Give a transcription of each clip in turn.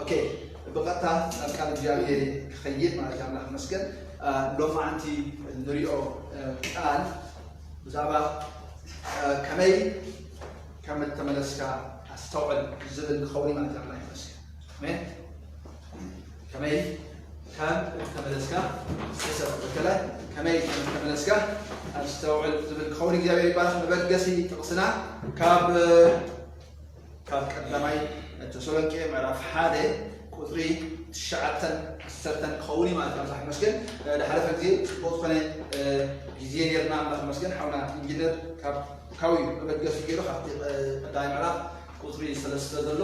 ኦኬ ብቐጥታ ናብ ቃል እግዚኣብሄር ክኸይድ ማለት ኣምላኽ መስገን ሎማዓንቲ ንሪኦ ቃል ብዛዕባ ከመይ ከም እተመለስካ ኣስተውዕል ዝብል ክኸውን ማለት ኣምላኽ ይመስገን ከመይ ከም እተመለስካ ሰሰብ በከለ ከመይ ከም እተመለስካ ኣስተውዕል ዝብል ክኸውን እግዚኣብሔር ይባረክ መበገሲ ጥቕስና ካብ ካብ ቀዳማይ ተሰሎንቄ ምዕራፍ ሓደ ቁፅሪ ትሽዓተን ዓሰርተን ክኸውን እዩ ማለት ኣምላኽ ይመስገን ድሓለፈ ግዜ ፅቡቅ ዝኾነ ግዜ ነርና ኣምላኽ ይመስገን ሓውና ኢንጂነር ካብ ካብዩ መበገሲ ገይሩ ካብቲ ቀዳማይ ምዕራፍ ቁፅሪ ሰለስተ ዘሎ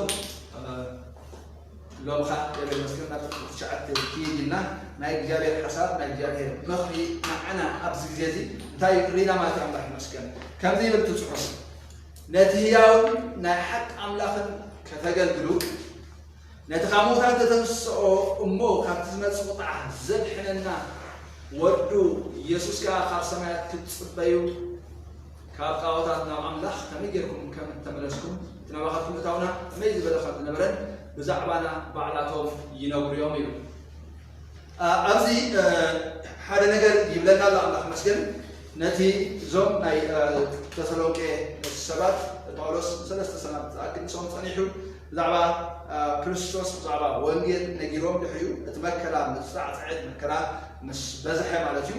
ሎሚ ከዓ እግዚኣብሔር ይመስገን ናብ ቁፅሪ ትሽዓተ ክይድ ኢልና ናይ እግዚኣብሔር ሓሳብ ናይ እግዚኣብሔር ምኽሪ ንዓና ኣብዚ ግዜ እዚ እንታይ እዩ ርኢና ማለት እዩ ኣምላኽ ይመስገን ከምዚ ይብል እቲ ፅሑፍ ነቲ ህያውን ናይ ሓቂ ኣምላኽን ከተገልግሉ ነቲ ካብ ምውታት ተተንስኦ እሞ ካብቲ ዝመፅእ ቁጥዓ ዘድሕነና ወዱ ኢየሱስ ከዓ ካብ ሰማያት ክትፅበዩ ካብ ጣኦታት ናብ ኣምላኽ ከመይ ጌርኩም ከም እተመለስኩም፣ እቲ ናባኻትኩም እታውና ከመይ ዝበለ ከም ዝነበረን ብዛዕባና ባዕላቶም ይነግሩ እዮም ይብል። ኣብዚ ሓደ ነገር ይብለና ኣሎ ኣምላኽ መስገን ነቲ እዞም ናይ ተሰሎንቄ ሰባት ጳውሎስ ንሰለስተ ሰናት ዝኣክል ምስኦም ጸኒሑ ብዛዕባ ክርስቶስ ብዛዕባ ወንጌል ነጊሮም ድሕሪኡ እቲ መከራ ምጻዕጽዕት መከራ ምስ በዝሐ ማለት እዩ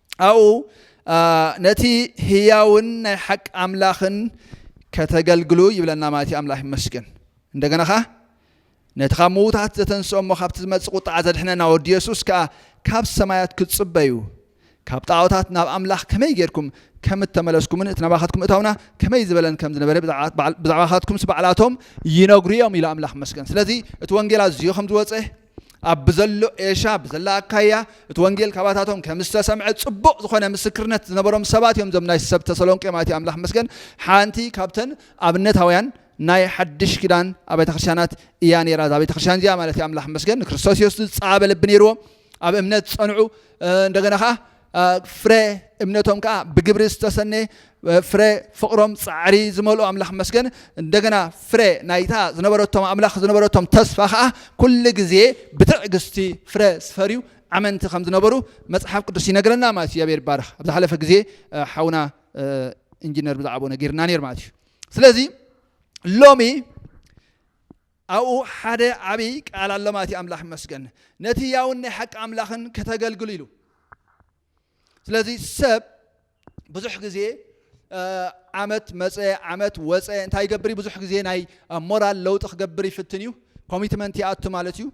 ኣብኡ ነቲ ህያውን ናይ ሓቂ ኣምላኽን ከተገልግሉ ይብለና ማለት እዩ ኣምላኽ ይመስገን እንደገና ኸዓ ነቲ ካብ ምዉታት ዘተንስኦ እሞ ካብቲ ዝመፅእ ቁጣዓ ዘድሕነና ወዲ የሱስ ከዓ ካብ ሰማያት ክትፅበዩ ካብ ጣዖታት ናብ ኣምላኽ ከመይ ጌርኩም ከም እተመለስኩምን እቲ ናባኻትኩም እታውና ከመይ ዝበለን ከም ዝነበረ ብዛዕባኻትኩምስ ባዕላቶም ይነግሩ እዮም ኢሉ ኣምላኽ መስገን ስለዚ እቲ ወንጌል ኣዝዮ ከም ዝወፀ ኣብ ብዘሎ ኤሻ ብዘላ ኣካያ እቲ ወንጌል ካባታቶም ከም ዝተሰምዐ ጽቡቕ ዝኾነ ምስክርነት ዝነበሮም ሰባት እዮም እዞም ናይ ሰብ ተሰሎንቄ ማለት እዩ ኣምላኽ መስገን ሓንቲ ካብተን ኣብነታውያን ናይ ሓድሽ ኪዳን ኣብያተ ክርስቲያናት እያ ነይራ እዛ ቤተ ክርስቲያን እዚኣ ማለት እዩ ኣምላኽ መስገን ንክርስቶስ ኢየሱስ ዝጸዓበ ልቢ ነይርዎም ኣብ እምነት ዝጸንዑ እንደገና ከዓ ፍረ እምነቶም ከዓ ብግብሪ ዝተሰነየ ፍረ ፍቕሮም ፃዕሪ ዝመልኦ ኣምላኽ መስገን እንደገና ፍረ ናይታ ዝነበረቶም ኣምላኽ ዝነበረቶም ተስፋ ከዓ ኩሉ ግዜ ብትዕግስቲ ፍረ ዝፈርዩ ኣመንቲ ከም ዝነበሩ መፅሓፍ ቅዱስ ይነግረና ማለት እዩ እግዚኣብሔር ይባረኽ ኣብ ዝሓለፈ ግዜ ሓውና ኢንጂነር ብዛዕባኡ ነጊርና ነይር ማለት እዩ ስለዚ ሎሚ ኣብኡ ሓደ ዓቢ ቃል ኣሎ ማለት እዩ ኣምላኽ ይመስገን ነቲ ህያውን ናይ ሓቂ ኣምላኽን ከተገልግሉ ኢሉ ስለዚ ሰብ ብዙሕ ግዜ ዓመት መፀ ዓመት ወፀ እንታይ ይገብር ብዙሕ ግዜ ናይ ሞራል ለውጢ ክገብር ይፍትን እዩ ኮሚትመንት ይኣቱ ማለት እዩ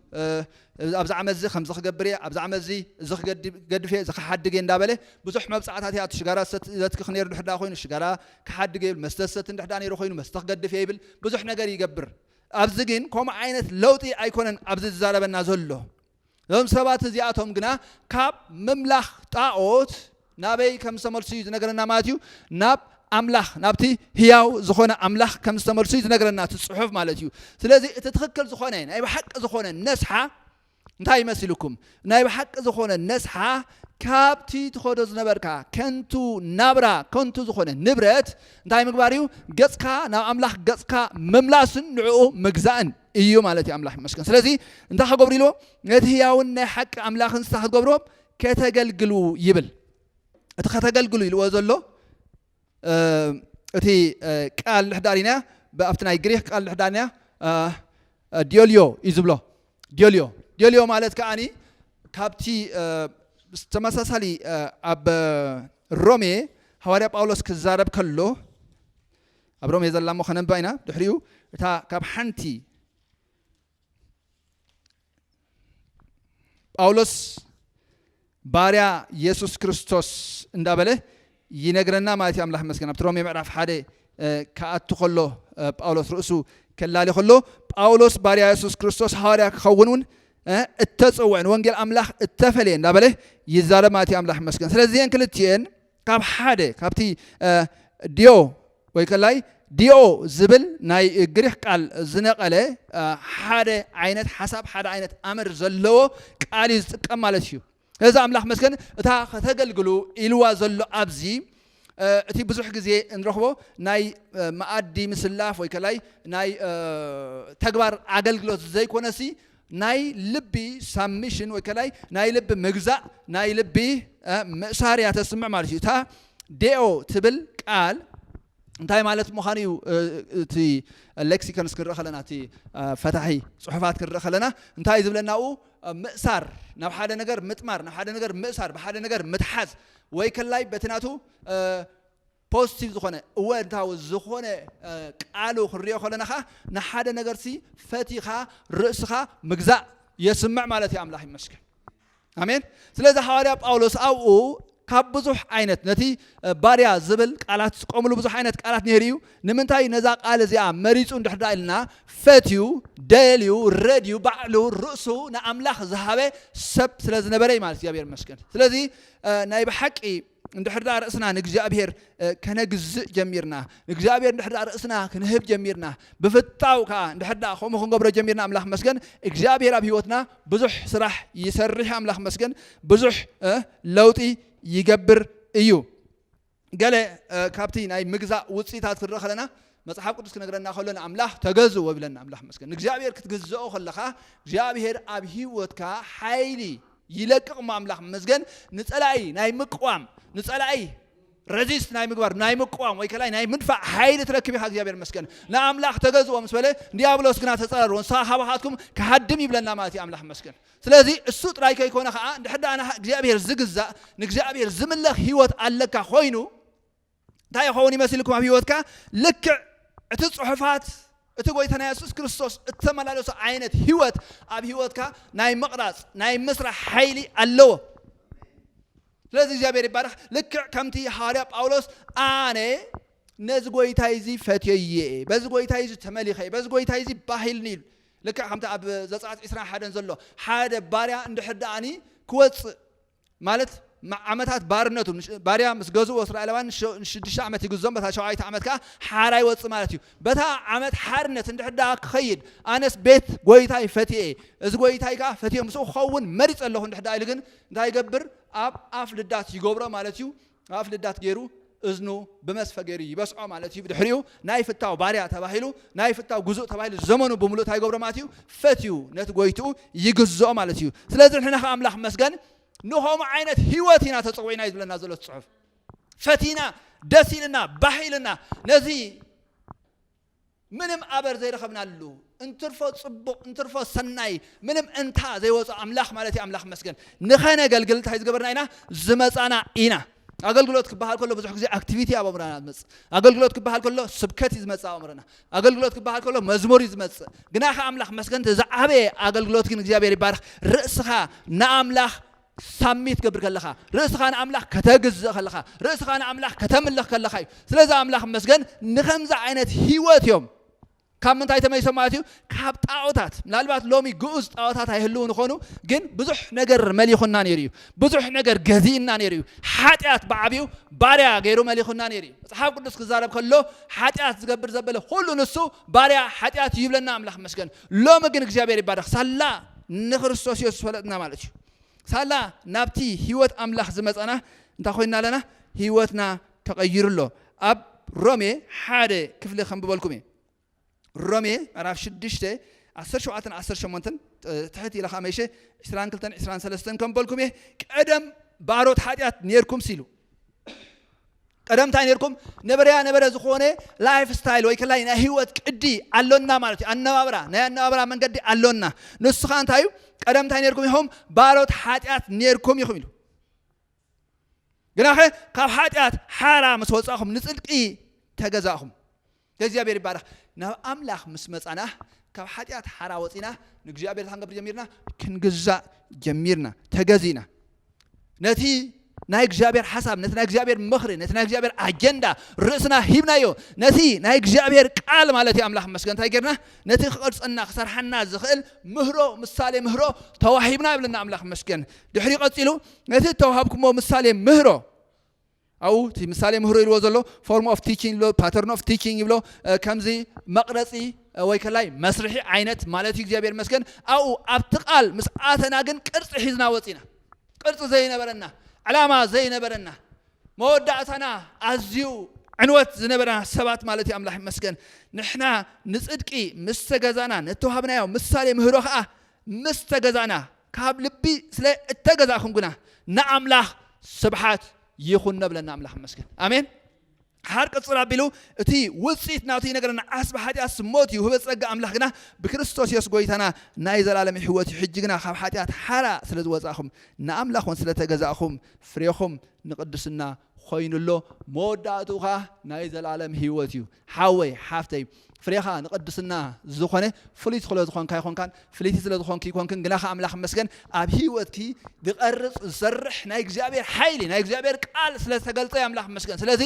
ኣብዚ ዓመት እዚ ከምዚ ክገብር እየ፣ ኣብዚ ዓመት እዚ እዚ ክገድፍ እየ፣ እዚ ክሓድግ እየ እንዳበለ ብዙሕ መብጽዓታት ይኣቱ። ሽጋራ ዝሰቲ ዘትክኽ ነይሩ እንድሕር ደኣ ኮይኑ ሽጋራ ክሓድግ እየ ይብል፣ መስተ ዝሰቲ እንድሕር ደኣ ነይሩ ኮይኑ መስተ ክገድፍ እየ ይብል፣ ብዙሕ ነገር ይገብር። ኣብዚ ግን ከምኡ ዓይነት ለውጢ ኣይኮነን ኣብዚ ዝዛረበና ዘሎ። እዞም ሰባት እዚኣቶም ግና ካብ ምምላኽ ጣኦት ናበይ ከም ዝተመልሱ እዩ ዝነገረና ማለት እዩ ናብ ኣምላኽ ናብቲ ህያው ዝኾነ ኣምላኽ ከም ዝተመልሱ እዩ ዝነገረና እቲ ጽሑፍ ማለት እዩ ስለዚ እቲ ትኽክል ዝኾነ ናይ ብሓቂ ዝኾነ ነስሓ እንታይ ይመስልኩም ናይ ብሓቂ ዝኾነ ነስሓ ካብቲ ትኸዶ ዝነበርካ ከንቱ ናብራ ከንቱ ዝኾነ ንብረት እንታይ ምግባር እዩ ገፅካ ናብ ኣምላኽ ገፅካ ምምላስን ንዕኡ ምግዛእን እዩ ማለት እዩ ኣምላኽ ይመስገን ስለዚ እንታይ ክገብሩ ኢልዎ ነቲ ህያውን ናይ ሓቂ ኣምላኽን ስታ ክትገብሮ ከተገልግሉ ይብል እቲ ከተገልግሉ ኢልዎ ዘሎ እቲ ቃል ንሕዳሪና ኣብቲ ናይ ግሪክ ቃል ንሕዳሪና ዲዮልዮ እዩ ዝብሎ ዲዮልዮ ዲዮልዮ ማለት ከዓኒ ካብቲ ተመሳሳሊ ኣብ ሮሜ ሃዋርያ ጳውሎስ ክዛረብ ከሎ ኣብ ሮሜ ዘላ እሞ ከነንባ ኢና ድሕሪኡ እታ ካብ ሓንቲ ጳውሎስ ባርያ የሱስ ክርስቶስ እንዳበለ ይነግረና ማለት እዩ ኣምላኽ መስገን ኣብቲ ሮሜ ምዕራፍ ሓደ ክኣቱ ከሎ ጳውሎስ ርእሱ ከላሊ ከሎ ጳውሎስ ባርያ የሱስ ክርስቶስ ሃዋርያ ክኸውን እውን እተፀውዐን ወንጌል ኣምላኽ እተፈለየ እንዳበለ ይዛረብ ማለት እዩ ኣምላኽ መስገን ስለዚአን ክልትኤን ካብ ሓደ ካብቲ ዲዮ ወይ ከላይ ዲኦ ዝብል ናይ ግሪክ ቃል ዝነቐለ ሓደ ዓይነት ሓሳብ ሓደ ዓይነት ኣምር ዘለዎ ቃል እዩ ዝጥቀም ማለት እዩ እዚ ኣምላኽ መስገን እታ ከተገልግሉ ኢልዋ ዘሎ ኣብዚ እቲ ብዙሕ ግዜ እንረኽቦ ናይ መኣዲ ምስላፍ ወይ ከላይ ናይ ተግባር ኣገልግሎት ዘይኮነሲ ናይ ልቢ ሳብሚሽን ወይ ከላይ ናይ ልቢ ምግዛእ ናይ ልቢ ምእሳር እያ ተስምዕ ማለት እዩ እታ ዴኦ ትብል ቃል እንታይ ማለት ምዃኑ እዩ እቲ ሌክሲኮንስ ክንርኢ ከለና እቲ ፈታሒ ፅሑፋት ክንርኢ ከለና እንታይ ዝብለናኡ ምእሳር ናብ ሓደ ነገር ምጥማር ናብ ሓደ ነገር ምእሳር ብሓደ ነገር ምትሓዝ ወይ ከላይ በቲ ናቱ ፖዚቲቭ ዝኾነ እወንታዊ ዝኾነ ቃሉ ክንሪኦ ከለና ከኣ ንሓደ ነገርሲ ፈቲኻ ርእስኻ ምግዛእ የስምዕ ማለት እዩ ኣምላኽ ይመስገን ኣሜን ስለዚ ሃዋርያ ጳውሎስ ኣብኡ ካብ ብዙሕ ዓይነት ነቲ ባርያ ዝብል ቃላት ዝጥቀምሉ ብዙሕ ዓይነት ቃላት ነይሩ እዩ ንምንታይ ነዛ ቃል እዚኣ መሪፁ እንድሕር ዳ ኢልና ፈትዩ ደልዩ ረድዩ ባዕሉ ርእሱ ንኣምላኽ ዝሃበ ሰብ ስለ ዝነበረ እዩ ማለት እግዚኣብሔር ይመስገን ስለዚ ናይ ብሓቂ እንድሕር ደኣ ርእስና ንእግዚኣብሔር ከነግዝእ ጀሚርና ንእግዚኣብሔር እንድሕር ደኣ ርእስና ክንህብ ጀሚርና ብፍታው ከዓ እንድሕር ደኣ ከምኡ ክንገብሮ ጀሚርና ኣምላኽ መስገን እግዚኣብሔር ኣብ ህይወትና ብዙሕ ስራሕ ይሰርሕ ኣምላኽ መስገን ብዙሕ ለውጢ ይገብር እዩ ገለ ካብቲ ናይ ምግዛእ ውፅኢታት ክንርኢ ከለና መጽሓፍ ቅዱስ ክነግረና ከሎ ንኣምላኽ ተገዝዎ ይብለና ኣምላኽ መስገን ንእግዚኣብሔር ክትግዝኦ ከለኻ እግዚኣብሔር ኣብ ሂወትካ ሓይሊ ይለቅቕ እሞ ኣምላኽ ይመስገን ንጸላኢ ናይ ምቅዋም ንጸላኢ ረዚስት ናይ ምግባር ናይ ምቅዋም ወይ ከላይ ናይ ምድፋእ ሓይሊ ትረክብ ኢኻ እግዚኣብሔር ይመስገን ንኣምላኽ ተገዝኦ ምስ በለ ዲያብሎስ ግና ተጸረርዎ ንሳ ካባኻትኩም ክሃድም ይብለና ማለት እዩ ኣምላኽ ይመስገን ስለዚ እሱ ጥራይ ከይኮነ ከዓ እንድሕር ደኣ እግዚኣብሔር ዝግዛእ ንእግዚኣብሔር ዝምለኽ ህይወት ኣለካ ኮይኑ እንታይ ይኸውን ይመስልኩም ኣብ ህይወትካ ልክዕ እቲ ጽሑፋት እቲ ጎይታ ናይ የሱስ ክርስቶስ እተመላለሶ ዓይነት ህይወት ኣብ ህይወትካ ናይ ምቕራጽ ናይ ምስራሕ ሓይሊ ኣለዎ ስለዚ እግዚኣብሔር ይባረኽ ልክዕ ከምቲ ሃዋርያ ጳውሎስ ኣነ ነዚ ጎይታይ እዚ ፈትዮየ በዚ ጎይታይ እዚ ተመሊኸ በዚ ጎይታይ እዚ ባህልኒ ኢሉ ልክዕ ከምቲ ኣብ ዘፃት ዕስራን ሓደን ዘሎ ሓደ ባርያ እንድሕር ደኣኒ ክወፅእ ማለት ዓመታት ባርነቱ ንሽ- ባርያ ምስ ገዝእዎ እስራኤላውያን ንሽ- ንሽዱሽተ ዓመት ይግዞም በታ ሸውዓይቲ ዓመት ከዓ ሓራ ይወፅእ ማለት እዩ በታ ዓመት ሓርነት እንድሕር ደኣ ክኸይድ ኣነስ ቤት ጎይታይ ፈትየ እየ እዚ ጎይታይ ከዓ ፈትየ ምስኡ ክኸውን መሪፀ ኣለኹ እንድሕር ደኣ ኢሉ ግን እንታይ ይገብር ኣብ ኣፍ ልዳት ይገብሮ ማለት እዩ ኣፍ ልዳት ገይሩ እዝኑ ብመስፈ ገይሩ ይበስዖ ማለት እዩ። ብድሕሪኡ ናይ ፍታው ባርያ ተባሂሉ ናይ ፍታው ግዙእ ተባሂሉ ዘመኑ ብምሉእ እንታይ ይገብሮ ማለት እዩ? ፈትዩ ነቲ ጎይትኡ ይግዝኦ ማለት እዩ። ስለዚ ንሕና ከ ኣምላኽ መስገን ንኸምኡ ዓይነት ህይወት ኢና ተጸዊዕና እዩ ዝብለና ዘሎ ጽሑፍ። ፈቲና ደስ ኢልና ባህ ኢልና ነዚ ምንም ኣበር ዘይረኸብናሉ እንትርፎ ጽቡቕ እንትርፎ ሰናይ ምንም እንታ ዘይወጾ ኣምላኽ ማለት እዩ ኣምላኽ መስገን ንኸነገልግል እንታይ ዝገበርና ኢና ዝመጻና ኢና ኣገልግሎት ክበሃል ከሎ ብዙሕ ግዜ ኣክቲቪቲ ኣብ ኣእምሮና ዝመጽእ ኣገልግሎት ክበሃል ከሎ ስብከት እዩ ዝመጽእ ኣእምሮና ኣገልግሎት ክበሃል ከሎ መዝሙር እዩ ዝመጽእ ግና ከ ኣምላኽ መስገን ዝዓበየ ኣገልግሎት ግን እግዚኣብሔር ይባርኽ ርእስኻ ንኣምላኽ ሳሚት ገብር ከለኻ ርእስኻ ንኣምላኽ ከተግዝእ ከለኻ ርእስኻ ንኣምላኽ ከተምልኽ ከለኻ እዩ ስለዚ ኣምላኽ መስገን ንከምዚ ዓይነት ህይወት እዮም ካብ ምንታይ ተመይሶም ማለት እዩ ካብ ጣዖታት ምናልባት ሎሚ ግኡዝ ጣዖታት ኣይህልውን ይኾኑ ግን ብዙሕ ነገር መሊኹና ነይሩ እዩ ብዙሕ ነገር ገዚእና ነይሩ እዩ ሓጢኣት ብዓብኡ ባርያ ገይሩ መሊኹና ነይሩ እዩ መፅሓፍ ቅዱስ ክዛረብ ከሎ ሓጢኣት ዝገብር ዘበለ ኩሉ ንሱ ባርያ ሓጢኣት እዩ ይብለና ኣምላኽ መስገን ሎሚ ግን እግዚኣብሔር ይባረኽ ሳላ ንክርስቶስ ኢየሱስ ፈለጥና ማለት እዩ ሳላ ናብቲ ህይወት ኣምላኽ ዝመፀና እንታይ ኮይና ኣለና ህይወትና ተቐይሩ ኣሎ ኣብ ሮሜ ሓደ ክፍሊ ከንብበልኩም እየ ሮሜ ምዕራፍ ሽዱሽተ ዓሰርተ ሸውዓተን ዓሰርተ ሸሞንተን ትሕት ኢለ ከዓ መይሸ ዕስራን ክልተን ዕስራን ሰለስተን ከንበልኩም እየ ቀደም ባሮት ሓጢኣት ነርኩም ሲሉ ቀደም እንታይ ነርኩም ነበረያ ነበረ ዝኾነ ላይፍ ስታይል ወይ ከላይ ናይ ህይወት ቅዲ ኣሎና ማለት እዩ ኣነባብራ ናይ ኣነባብራ መንገዲ ኣሎና ንሱ ከዓ እንታይ እዩ ቀደም እንታይ ነርኩም ኢኹም ባሮት ሓጢኣት ነርኩም ኢኹም ኢሉ ግናኸ ካብ ሓጢኣት ሓራ ምስ ወፃእኹም ንፅድቂ ተገዛእኹም እግዚኣብሔር ይባረክ ናብ ኣምላክ ምስ መጻና ካብ ሓጢኣት ሓራ ወጺና ንእግዚኣብሔር እንታይ ክንገብር ጀሚርና ክንግዛእ ጀሚርና ተገዚእና ነቲ ናይ እግዚኣብሔር ሓሳብ ነቲ ናይ እግዚኣብሔር ምኽሪ ነቲ ናይ እግዚኣብሔር ኣጀንዳ ርእስና ሂብናዮ ነቲ ናይ እግዚኣብሔር ቃል ማለት እዩ ኣምላኽ መስገን እንታይ ጌርና ነቲ ክቐርፀና ክሰርሓና ዝኽእል ምህሮ ምሳሌ ምህሮ ተዋሂብና ይብለና ኣምላኽ መስገን ድሕሪ ቀፂሉ ነቲ ተዋሃብኩሞ ምሳሌ ምህሮ ኣብኡ እቲ ምሳሌ ምህሮ ኢልዎ ዘሎ ፎርም ኦፍ ቲቺንግ ይብሎ ፓተርን ኦፍ ቲቺንግ ይብሎ ከምዚ መቕረጺ ወይ ከላይ መስርሒ ዓይነት ማለት እዩ እግዚኣብሔር ይመስገን ኣብኡ ኣብቲ ቃል ምስ ኣተና ግን ቅርፂ ሒዝና ወፂና ቅርፂ ዘይነበረና ዕላማ ዘይነበረና መወዳእታና ኣዝዩ ዕንወት ዝነበረና ሰባት ማለት እዩ ኣምላኽ ይመስገን ንሕና ንፅድቂ ምስ ተገዛና ነተዋሃብናዮ ምሳሌ ምህሮ ከዓ ምስ ተገዛእና ካብ ልቢ ስለ እተገዛእኩም ግና ንኣምላኽ ስብሓት ይኹን ነብለና ኣምላኽ መስግን ኣሜን ሓር ቅጽል ኣቢሉ እቲ ውጽኢት ናቱ ይነገረና ዓስቢ ሓጢኣት ሞት እዩ ህበ ጸጋ ኣምላኽ ግና ብክርስቶስ የሱስ ጎይታና ናይ ዘላለም ሕይወት እዩ ሕጂ ግና ካብ ሓጢኣት ሓራ ስለ ዝወጻእኹም ንኣምላኽ እውን ስለ ተገዛእኹም ፍሬኹም ንቅድስና ኾይኑ ኣሎ መወዳእትኡ ኸኣ ናይ ዘልኣለም ሂወት እዩ ሓወይ ሓፍተይ ፍሬኻ ንቅድስና ዝኾነ ፍሉይ ስለ ዝኾንካ ኣይኮንካን ፍልይቲ ስለ ዝኾንኪ ይኮንክን ግናኸ ኣምላኽ መስገን ኣብ ሂወትኪ ዝቐርጽ ዝሰርሕ ናይ እግዚኣብሔር ሓይሊ ናይ እግዚኣብሔር ቃል ስለ ዝተገልጸ ኣምላኽ መስገን ስለዚ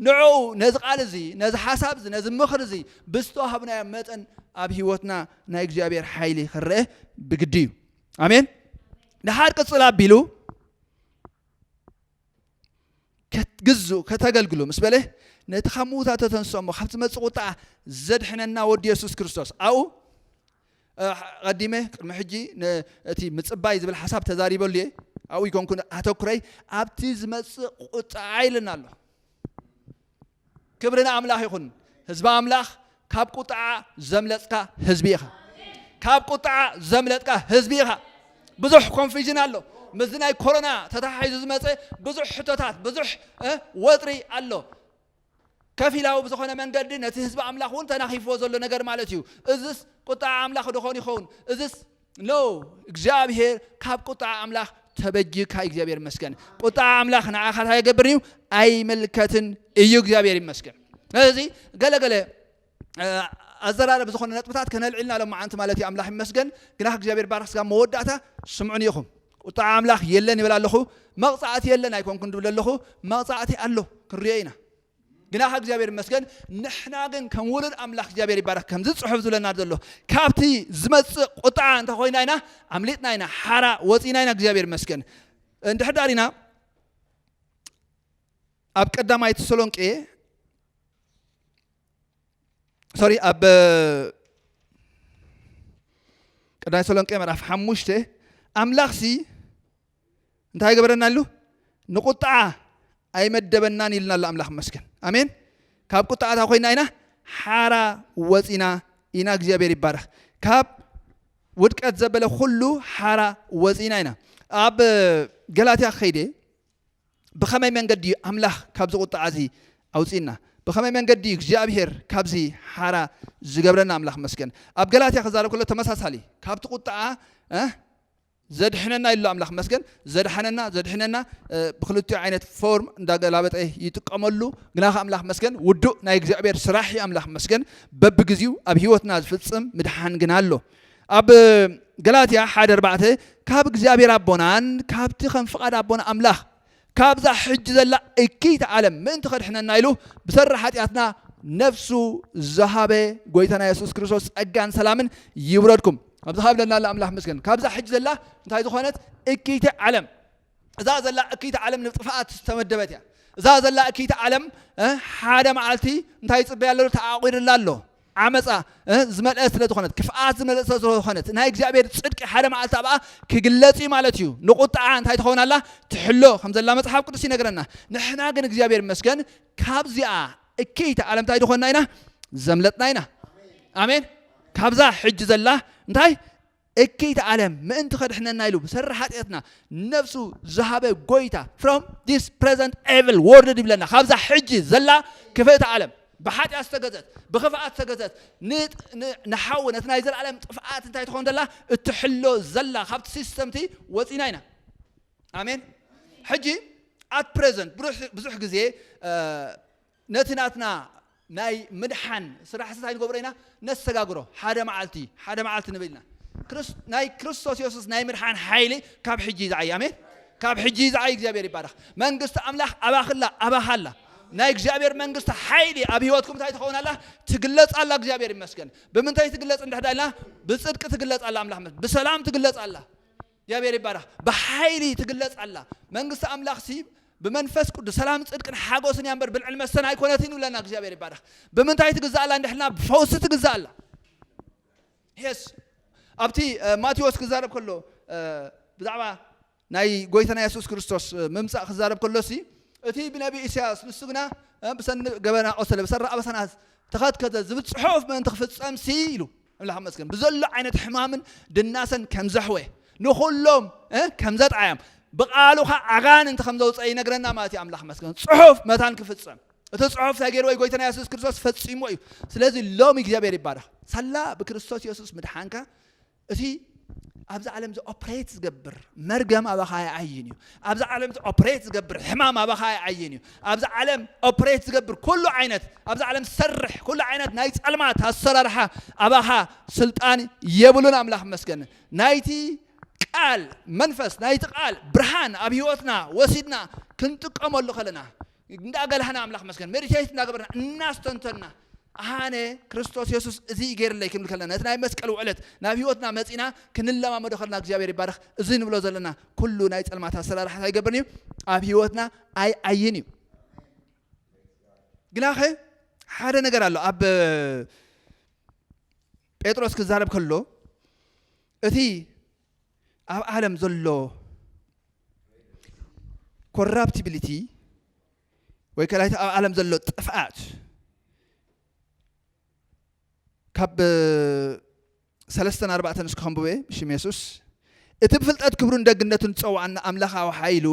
ንዕኡ ነዚ ቃል እዚ ነዚ ሓሳብ እዚ ነዚ ምኽሪ እዚ ብዝተዋሃብናዮ መጠን ኣብ ሂወትና ናይ እግዚኣብሔር ሓይሊ ክረአ ብግዲ እዩ ኣሜን ድሓር ቅጽል ኣቢሉ ክትግዝኡ ከተገልግሉ ምስ በለ ነቲ ካብ ምዉታት ተተንስኦ እሞ ካብ ዝመፅእ ቁጣ ዘድሕነና ወዲ የሱስ ክርስቶስ ኣብኡ ቀዲመ ቅድሚ ሕጂ እቲ ምፅባይ ዝብል ሓሳብ ተዛሪበሉ እየ ኣብኡ ይኮንኩ ኣተኩረይ ኣብቲ ዝመፅእ ቁጣዓ ኢልና ኣሎ ክብሪ ንኣምላኽ ይኹን ህዝቢ ኣምላኽ ካብ ቁጥዓ ዘምለጥካ ህዝቢ ኢኻ ካብ ቁጥዓ ዘምለጥካ ህዝቢ ኢኻ ብዙሕ ኮንፊዥን ኣሎ ምስዚ ናይ ኮሮና ተተሓሒዙ ዝመፀ ብዙሕ ሕቶታት ብዙሕ ወጥሪ ኣሎ ከፊላዊ ብዝኾነ መንገዲ ነቲ ህዝቢ ኣምላኽ እውን ተናኺፍዎ ዘሎ ነገር ማለት እዩ እዝስ ቁጣዓ ኣምላኽ ድኾን ይኸውን እዝስ ኖእ እግዚኣብሄር ካብ ቁጥዓ ኣምላኽ ተበጅካ እግዚኣብሄር ይመስገን ቁጥዓ ኣምላኽ ንዓኻ እንታይ ይገብር እዩ ኣይምልከትን እዩ እግዚኣብሄር ይመስገን ስለዚ ገለገለ ኣዘራረብ ዝኾነ ነጥብታት ከነልዕልና ሎም መዓንቲ ማለት እዩ ኣምላኽ ይመስገን ግና እግዚኣብሔር ባርክ ስጋ መወዳእታ ስምዑን ኢኹም ቁጣዕ ኣምላኽ የለን ይብል ኣለኹ መቕፃዕቲ የለን ኣይኮንኩን ድብል ኣለኹ መቕፃዕቲ ኣሎ ክንሪኦ ኢና ግና ከ እግዚኣብሔር ይመስገን ንሕና ግን ከም ውሉድ ኣምላኽ እግዚኣብሔር ይባረክ ከምዚ ጽሑፍ ዝብለና ዘሎ ካብቲ ዝመጽእ ቁጥዓ እንተ ኮይና ኢና ኣምሊጥና ኢና ሓራ ወጺና ኢና እግዚኣብሔር ይመስገን እንድሕር ዳር ኢና ኣብ ቀዳማይ ተሰሎንቄ ሶሪ ኣብ ቀዳማይ ተሰሎንቄ ምዕራፍ ሓሙሽተ ኣምላኽ ሲ እንታይ ገበረና ኣሉ ንቁጣዓ ኣይመደበናን ኢልና ኣሎ ኣምላኽ መስገን ኣሜን ካብ ቁጣዓ እታ ኮይና ኢና ሓራ ወፂና ኢና እግዚኣብሔር ይባረኽ ካብ ውድቀት ዘበለ ኩሉ ሓራ ወፂና ኢና ኣብ ገላትያ ከይደ ብኸመይ መንገዲ እዩ ኣምላኽ ካብዚ ቁጣዓ እዚ ኣውፅና ብኸመይ መንገዲ እዩ እግዚኣብሄር ካብዚ ሓራ ዝገብረና ኣምላኽ መስገን ኣብ ገላትያ ክዛረብ ከሎ ተመሳሳሊ ካብቲ ቁጣዓ ዘድሕነና ይሎ ኣምላክ ይመስገን ዘድሓነና ዘድሕነና ብክልቲኡ ዓይነት ፎርም እንዳገላበጠ ይጥቀመሉ ግና ከ ኣምላክ ይመስገን ውዱእ ናይ እግዚኣብሔር ስራሕ እዩ ኣምላክ ይመስገን በብግዚኡ ኣብ ሂወትና ዝፍጽም ምድሓን ግና ኣሎ ኣብ ገላትያ ሓደ ኣርባዕተ ካብ እግዚኣብሔር ኣቦናን ካብቲ ከም ፍቃድ ኣቦና ኣምላክ ካብዛ ሕጂ ዘላ እክይቲ ዓለም ምእንቲ ከድሕነና ኢሉ ብሰሪ ሓጢኣትና ነፍሱ ዝሃበ ጎይታና የሱስ ክርስቶስ ጸጋን ሰላምን ይውረድኩም ኣብዚ ካብለና ኣላ ኣምላኽ መስገን ካብዛ ሕጂ ዘላ እንታይ ዝኾነት እክይቲ ዓለም እዛ ዘላ እክይቲ ዓለም ንጥፍኣት ዝተመደበት እያ እዛ ዘላ እክይቲ ዓለም ሓደ መዓልቲ እንታይ ይፅበያ ኣሎ ተዓቂርላ ኣሎ ዓመጻ እ ዝመልአት ስለ ዝኾነት ክፍኣት ዝመልእት ስለ ዝኾነት ናይ እግዚኣብሔር ጽድቂ ሓደ መዓልቲ ኣብኣ ክግለጽ እዩ ማለት እዩ ንቁጥዓ እንታይ ትኸውን ኣላ ትሕሎ ከም ዘላ መጽሓፍ ቅዱስ ይነግረና ንሕና ግን እግዚኣብሔር ይመስገን ካብዚኣ እክይቲ ዓለም እንታይ ዝኾንና ኢና ዘምለጥና ኢና ኣሜን ካብዛ ሕጂ ዘላ እንታይ እክይቲ ዓለም ምእንቲ ከድሕነና ኢሉ ብሰሪ ሓጢኣትና ነፍሱ ዝሃበ ጎይታ from this present evil world ይብለና ካብዛ ሕጂ ዘላ ክፍእቲ ዓለም ብሓጢኣት ዝተገዘት ብክፍኣት ዝተገዘት ንሓዊ ነቲ ናይ ዘለኣለም ጥፍኣት እንታይ ትኾን ዘላ እትሕሎ ዘላ ካብቲ ሲስተምቲ ወፂና ኢና ኣሜን ሕጂ ኣት ፕሬዘንት ብዙሕ ግዜ ነቲ ናትና ናይ ምድሓን ስራሕሲ ታይ ንገብሮ ኢና? ነሰጋግሮ። ሓደ መዓልቲ፣ ሓደ መዓልቲ ንብል ኢና። ክርስ፣ ናይ ክርስቶስ የሱስ ናይ ምድሓን ሓይሊ ካብ ሕጂ እዩ ዝዓዪ። ኣሜን! ካብ ሕጂ እዩ ዝዓዪ። እግዚኣብሄር ይባረኽ። መንግስቲ ኣምላኽ ኣባኺ ኣላ፣ ኣባኻ ኣላ። ናይ እግዚኣብሄር መንግስቲ ሓይሊ ኣብ ህይወትኩም እንታይ ትኸውን ኣላ? ትግለጽ ኣላ። እግዚኣብሄር ይመስገን። ብምንታይ ትግለጽ እንድሕዳ ኢልና፣ ብጽድቂ ትግለጽ ኣላ፣ ኣምላኽ ይመስገን። ብሰላም ትግለጽ ኣላ። እግዚኣብሔር ይባረኽ ብሓይሊ ትግለጽ ኣላ መንግስቲ ኣምላኽ ሲ ብመንፈስ ቅዱስ ሰላም ጽድቅን ሓጎስን እያ እምበር ብልዕን መስተን ኣይኮነትን ይብለና እግዚኣብሔር ይባረኽ ብምንታይ ትግዛእ ኣላ እንድሕልና ብፈውሲ ትግዛእ ኣላ ሄስ ኣብቲ ማቴዎስ ክዛረብ ከሎ ብዛዕባ ናይ ጎይታና የሱስ ክርስቶስ ምምጻእ ክዛረብ ከሎ ሲ እቲ ብነቢ ኢሳያስ ንሱ ግና ብሰኒ ገበና ቆሰለ ብሰራ ኣበሳና ተኸትከተ ዝብል ጽሑፍ ምእንቲ ክፍጸም ሲ ኢሉ ኣምላኽ ይመስገን ብዘሎ ዓይነት ሕማምን ድናሰን ከም ዘሕወ ንኹሎም ከም ዘጥዓዮም ብቃሉ ኸ ኣጋንንቲ ከም ዘውፀ ይነግረና ማለት እዩ ኣምላኽ ይመስገን ፅሑፍ መታን ክፍፀም እቲ ፅሑፍ እንታይ ገይርዎ ጎይታና የሱስ ክርስቶስ ፈፂሞ እዩ ስለዚ ሎሚ እግዚኣብሔር ይባረኽ ሳላ ብክርስቶስ የሱስ ምድሓንካ እቲ ኣብዚ ዓለም እዚ ኦፕሬት ዝገብር መርገም ኣባኻ ኣይዓይን እዩ ኣብዚ ዓለም እዚ ኦፕሬት ዝገብር ሕማም ኣባኻ ኣይዓይን እዩ ኣብዚ ዓለም ኦፕሬት ዝገብር ኩሉ ዓይነት ኣብዚ ዓለም ዝሰርሕ ኩሉ ዓይነት ናይ ፀልማት ኣሰራርሓ ኣባኻ ስልጣን የብሉን ኣምላኽ መስገን ናይቲ ቃል መንፈስ ናይቲ ቃል ብርሃን ኣብ ህይወትና ወሲድና ክንጥቀመሉ ከለና እንዳበላህና ኣምላኽ ይመስገን መዲቴት እንዳገበርና እናስተንተንና ኣነ ክርስቶስ የሱስ እዚ እዩ ገይርለይ ክንብል ከለና ነቲ ናይ መስቀል ውዕለት ናብ ህይወትና መጺና ክንለማመዶ ከለና እግዚኣብሔር ይባረኽ እዚ ንብሎ ዘለና ኩሉ ናይ ጸልማት ኣሰራርሓ እንታይ ይገብርን እዩ ኣብ ህይወትና ኣይዓይን እዩ ግናኸ ሓደ ነገር ኣሎ ኣብ ጴጥሮስ ክዛረብ ከሎ እቲ ኣብ ዓለም ዘሎ ኮራፕቲቢሊቲ ወይ ከላይቲ ኣብ ዓለም ዘሎ ጥፍኣት ካብ ሰለስተን ኣርባዕተን እስከ ከንብበ ብሽም የሱስ እቲ ብፍልጠት ክብሩን ደግነቱን ዝፀዋዕና ኣምላኻዊ ሓይሉ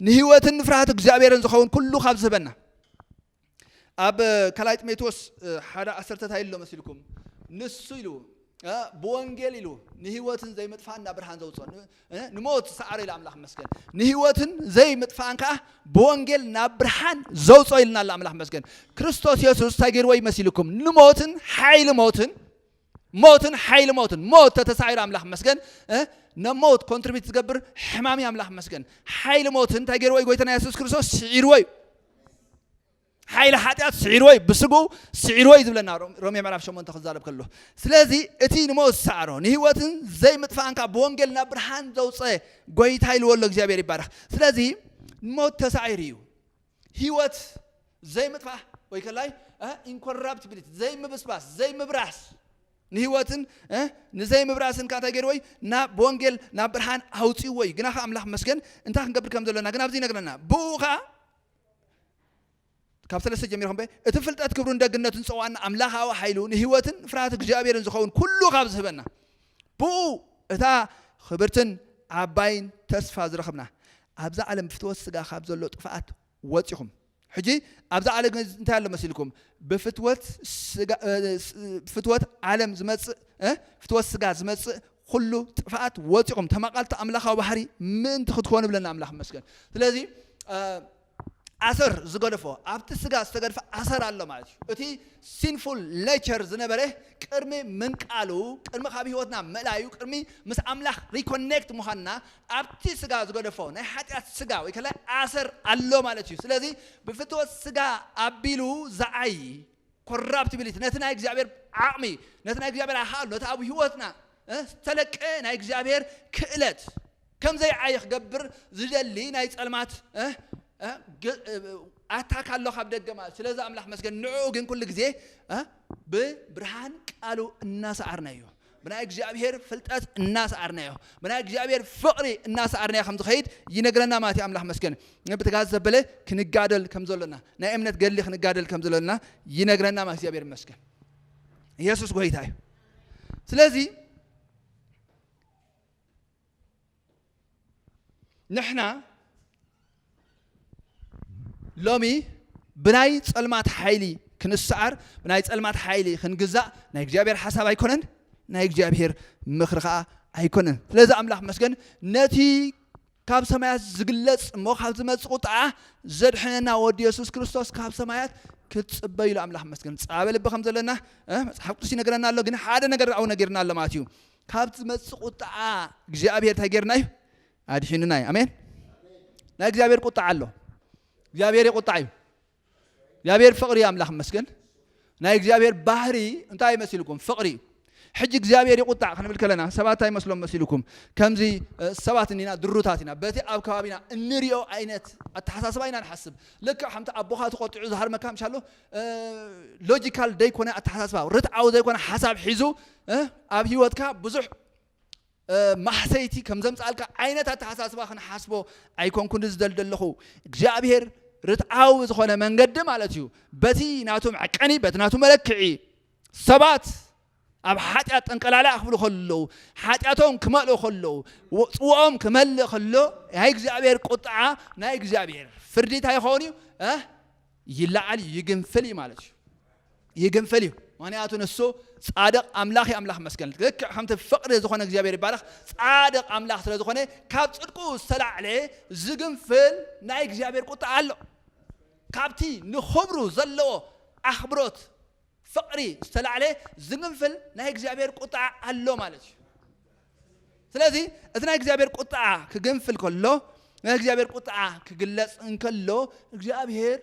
ንህይወትን ንፍርሃት እግዚኣብሔርን ዝኸውን ኩሉ ካብ ዝህበና ኣብ ካልኣይ ጢሞቴዎስ ሓደ ዓሰርተ እንታይ ኢሎ መሲልኩም ንሱ ኢሉ ብወንጌል ኢሉ ንህይወትን ዘይምጥፋእን ናብ ብርሃን ዘውፅኦ ንሞት ሰዓረ ኢሉ ኣምላኽ መስገን ንህይወትን ዘይምጥፋእን ከዓ ብወንጌል ናብ ብርሃን ዘውፅኦ ኢልና ኣላ ኣምላኽ መስገን ክርስቶስ የሱስ እንታይ ገይርዎ ይመሲልኩም ንሞትን ሓይሊ ሞትን ሞትን ሓይሊ ሞትን ሞት ተተሳዒሩ ኣምላኽ መስገን ነሞት ኮንትሪቢት ዝገብር ሕማም እዩ ኣምላኽ መስገን ሓይሊ ሞት እንታይ ገይርዎ እዩ ጎይታና የሱስ ክርስቶስ ስዒርዎ እዩ ሓይሊ ሓጢኣት ስዒርዎ እዩ ብስግኡ ስዒርዎ እዩ ዝብለና ሮሜ ምዕራፍ ሸሞንተ ክዛረብ ከሎ ስለዚ እቲ ንሞት ዝሰዓሮ ንህይወትን ዘይምጥፋእንካ ብወንጌል ናብ ብርሃን ዘውፀ ጎይታ ኢልዎ ኣሎ እግዚኣብሔር ይባረኽ ስለዚ ሞት ተሳዒሩ እዩ ህይወት ዘይምጥፋእ ወይ ከላይ ኢንኮራፕቲቢሊቲ ዘይምብስባስ ዘይምብራስ ንህይወትን ንዘይምብራስን ከኣ እንታይ ገይርዎ እዩ ናብ ብወንጌል ናብ ብርሃን ኣውፅዎ እዩ ግና ከ ኣምላኽ መስገን እንታይ ክንገብር ከም ዘለና ግን ኣብዚ ይነግረና ብኡ ከኣ ካብ ሰለስተ ጀሚርኩም በ እቲ ፍልጠት ክብሩን ደግነቱን ፀዋዕን ኣምላኻዊ ሓይሉ ንህይወትን ፍርሃት እግዚኣብሔርን ዝኸውን ኩሉ ካብ ዝህበና ብእኡ እታ ኽብርትን ዓባይን ተስፋ ዝረኽብና፣ ኣብዛ ዓለም ብፍትወት ስጋ ኻብ ዘሎ ጥፍኣት ወጺኹም፣ ሕጂ ኣብዛ ዓለ ግን እንታይ ኣሎ መሲልኩም? ብፍትወት ስጋ ፍትወት ዓለም ዝመጽእ ፍትወት ስጋ ዝመጽእ ኹሉ ጥፍኣት ወጺኹም ተማቓልቲ ኣምላኻዊ ባህሪ ምእንቲ ክትኮኑ ብለና ኣምላኽ መስገን ስለዚ ኣሰር ዝገደፎ ኣብቲ ስጋ ዝተገድፈ ኣሰር ኣሎ ማለት እዩ። እቲ ሲንፉል ነቸር ዝነበረ ቅድሚ ምንቃሉ ቅድሚ ካብ ህይወትና ምእላዩ ቅድሚ ምስ ኣምላኽ ሪኮኔክት ምዃንና ኣብቲ ስጋ ዝገደፎ ናይ ሓጢኣት ስጋ ወይ ከላይ ኣሰር ኣሎ ማለት እዩ። ስለዚ ብፍትወት ስጋ ኣቢሉ ዝዓዪ ኮራፕቲቢሊቲ ነቲ ናይ እግዚኣብሔር ዓቕሚ ነቲ ናይ እግዚኣብሔር ኣኻእሎ ነቲ ኣብ ህይወትና ዝተለቀ ናይ እግዚኣብሔር ክእለት ከም ዘይዓዪ ክገብር ዝደሊ ናይ ጸልማት ኣታክ ኣሎ ካብ ደገ ማለት ስለዚ ኣምላኽ መስገን ንዕኡ ግን ኩሉ ግዜ ብብርሃን ቃሉ እናሰዓርናዮ ብናይ እግዚኣብሔር ፍልጠት እናሰዓርናዮ ብናይ እግዚኣብሔር ፍቕሪ እናሰዓርናዮ ከም ዝኸይድ ይነግረና ማለት እዩ ኣምላኽ መስገን ብትጋዝ ዘበለ ክንጋደል ከም ዘሎና ናይ እምነት ገድሊ ክንጋደል ከም ዘሎና ይነግረና ማለት እግዚኣብሔር መስገን ኢየሱስ ጎይታ እዩ ስለዚህ ንሕና ሎሚ ብናይ ጸልማት ሓይሊ ክንሰዓር ብናይ ጸልማት ሓይሊ ክንግዛእ ናይ እግዚኣብሔር ሓሳብ ኣይኮነን ናይ እግዚኣብሔር ምኽሪ ከዓ ኣይኮነን ስለዚ ኣምላኽ መስገን ነቲ ካብ ሰማያት ዝግለጽ እሞ ካብ ዝመጽእ ቁጥዓ ዘድሕነና ወዱ የሱስ ክርስቶስ ካብ ሰማያት ክትጽበዩ ኢሉ ኣምላኽ መስገን ጻበ ልቢ ከም ዘለና መጽሓፍ ቅዱስ ይነግረና ኣሎ ግን ሓደ ነገር ኣብኡ ነጊርና ኣሎ ማለት እዩ ካብ ዝመጽእ ቁጥዓ እግዚኣብሔር እንታይ ጌርና እዩ ኣድሒኑና እዩ ኣሜን ናይ እግዚኣብሔር ቁጥዓ ኣሎ እግዚኣብሔር የቁጣዕ እዩ እግዚኣብሔር ፍቕሪ ኣምላኽ መስገን ናይ እግዚኣብሔር ባህሪ እንታይ ይመስልኩም ፍቕሪ እዩ ሕጂ እግዚኣብሔር ይቁጣዕ ክንብል ከለና ሰባት እንታይ ይመስሎም መሲልኩም ከምዚ ሰባት እኒና ድሩታት ኢና በቲ ኣብ ከባቢና እንሪኦ ዓይነት ኣተሓሳስባ ኢና ንሓስብ ልክዕ ከምቲ ኣቦኻ ተቆጢዑ ዝሃርመካ ምሻ ኣሎ ሎጂካል ዘይኮነ ኣተሓሳስባ ርትዓዊ ዘይኮነ ሓሳብ ሒዙ ኣብ ሂወትካ ብዙሕ ማህሰይቲ ከም ዘምጽኣልካ ዓይነት ኣተሓሳስባ ክንሓስቦ ኣይኮንኩን ዝደል ዘለኹ እግዚኣብሄር ርትዓዊ ዝኾነ መንገዲ ማለት እዩ በቲ ናቱ መዕቀኒ በቲ ናቱ መለክዒ ሰባት ኣብ ሓጢኣት ጠንቀላልያ ክብሉ ከለዉ ሓጢኣቶም ክመልኡ ከለዉ ፅዋኦም ክመልእ ከሎ ናይ እግዚኣብሔር ቁጥዓ ናይ እግዚኣብሔር ፍርዲ እንታይ ይኸውን እዩ ይለዓል እዩ ይግንፍል እዩ ማለት እዩ ይግንፍል እዩ ምክንያቱ ንሱ ጻድቕ ኣምላኽ እዩ ኣምላኽ መስገን ልክዕ ከምቲ ፍቕሪ ዝኾነ እግዚኣብሔር ይባረኽ ጻድቕ ኣምላኽ ስለ ዝኾነ ካብ ጽድቁ ዝተላዕለ ዝግንፍል ናይ እግዚኣብሔር ቁጣ ኣሎ ካብቲ ንኽብሩ ዘለዎ ኣኽብሮት ፍቅሪ ዝተላዕለ ዝግንፍል ናይ እግዚኣብሔር ቁጥዓ ኣሎ ማለት እዩ ስለዚ እቲ ናይ እግዚኣብሔር ቁጥዓ ክግንፍል ከሎ ናይ እግዚኣብሔር ቁጥዓ ክግለጽ እንከሎ እግዚኣብሔር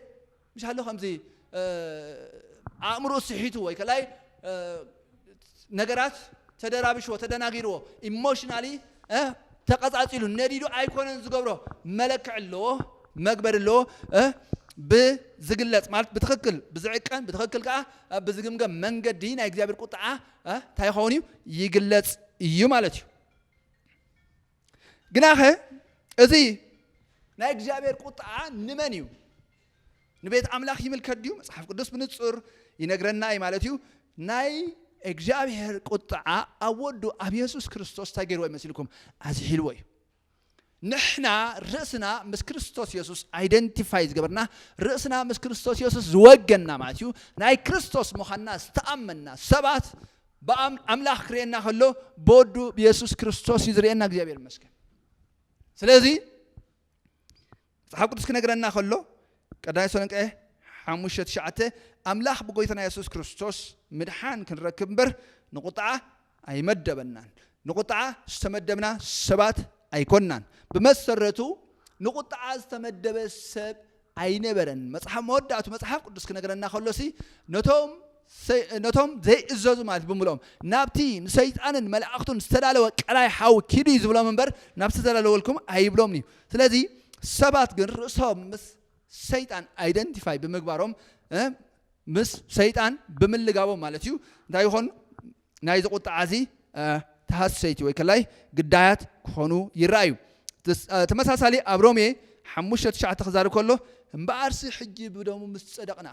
ምሻሎ ከምዚ ኣእምሮ ስሒቱ ወይ ከላይ ነገራት ተደራብሽዎ ተደናጊርዎ ኢሞሽናሊ ተቐጻጺሉ ነዲዱ ኣይኮነን ዝገብሮ መለክዒ ኣለዎ መግበሪ ኣለዎ ብዝግለጽ ማለት ብትኽክል ብዝዕቀን ብትኽክል ከዓ ብዝግምገም መንገዲ ናይ እግዚኣብሔር ቁጥዓ እንታይ ይኸውን እዩ ይግለጽ እዩ ማለት እዩ ግናኸ እዚ ናይ እግዚኣብሔር ቁጥዓ ንመን እዩ ንቤት ኣምላኽ ይምልከት ድዩ መጽሓፍ ቅዱስ ብንጹር ይነግረና እዩ ማለት እዩ ናይ እግዚኣብሔር ቁጥዓ ኣብ ወዱ ኣብ የሱስ ክርስቶስ እንታይ ገይርዎ ይመስልኩም ኣዝሒልዎ እዩ ንሕና ርእስና ምስ ክርስቶስ የሱስ ኣይደንቲፋይ ዝገበርና ርእስና ምስ ክርስቶስ የሱስ ዝወገና ማለት እዩ ናይ ክርስቶስ ምዃንና ዝተኣመንና ሰባት ብኣም ኣምላኽ ክርእየና ከሎ ብወዱ ብየሱስ ክርስቶስ እዩ ዝርእየና እግዚኣብሔር ይመስገን ስለዚ መጽሓፍ ቅዱስ ክነግረና ከሎ ቀዳማይ ተሰሎንቄ ሓሙሽተ ትሽዓተ ኣምላኽ ብጎይታና የሱስ ክርስቶስ ምድሓን ክንረክብ እምበር ንቁጥዓ ኣይመደበናን ንቁጥዓ ዝተመደብና ሰባት ኣይኮናን ብመሰረቱ ንቁጥዓ ዝተመደበ ሰብ ኣይነበረን። መጽሓፍ መወዳእቱ መጽሓፍ ቅዱስ ክነግረና ከሎሲ ነቶም ነቶም ዘይእዘዙ ማለት እዩ ብምልኦም ናብቲ ንሰይጣንን መላእኽቱን ዝተዳለወ ቀላይ ሓዊ ኪዱ እዩ ዝብሎም እምበር ናብ ዝተዳለወልኩም ኣይብሎምን እዩ። ስለዚ ሰባት ግን ርእሶም ምስ ሰይጣን ኣይደንቲፋይ ብምግባሮም እ ምስ ሰይጣን ብምልጋቦም ማለት እዩ እንታይ ይኾኑ ናይዚ ቁጥዓዚ ተሃሰይቲ ወይ ከላይ ግዳያት ክኾኑ ይረኣዩ። ተመሳሳሊ ኣብ ሮሜ ሓሙሽተ ትሽዓተ ክዛረብ ከሎ እምበኣርሲ ሕጂ ብደሙ ምስ ጸደቕና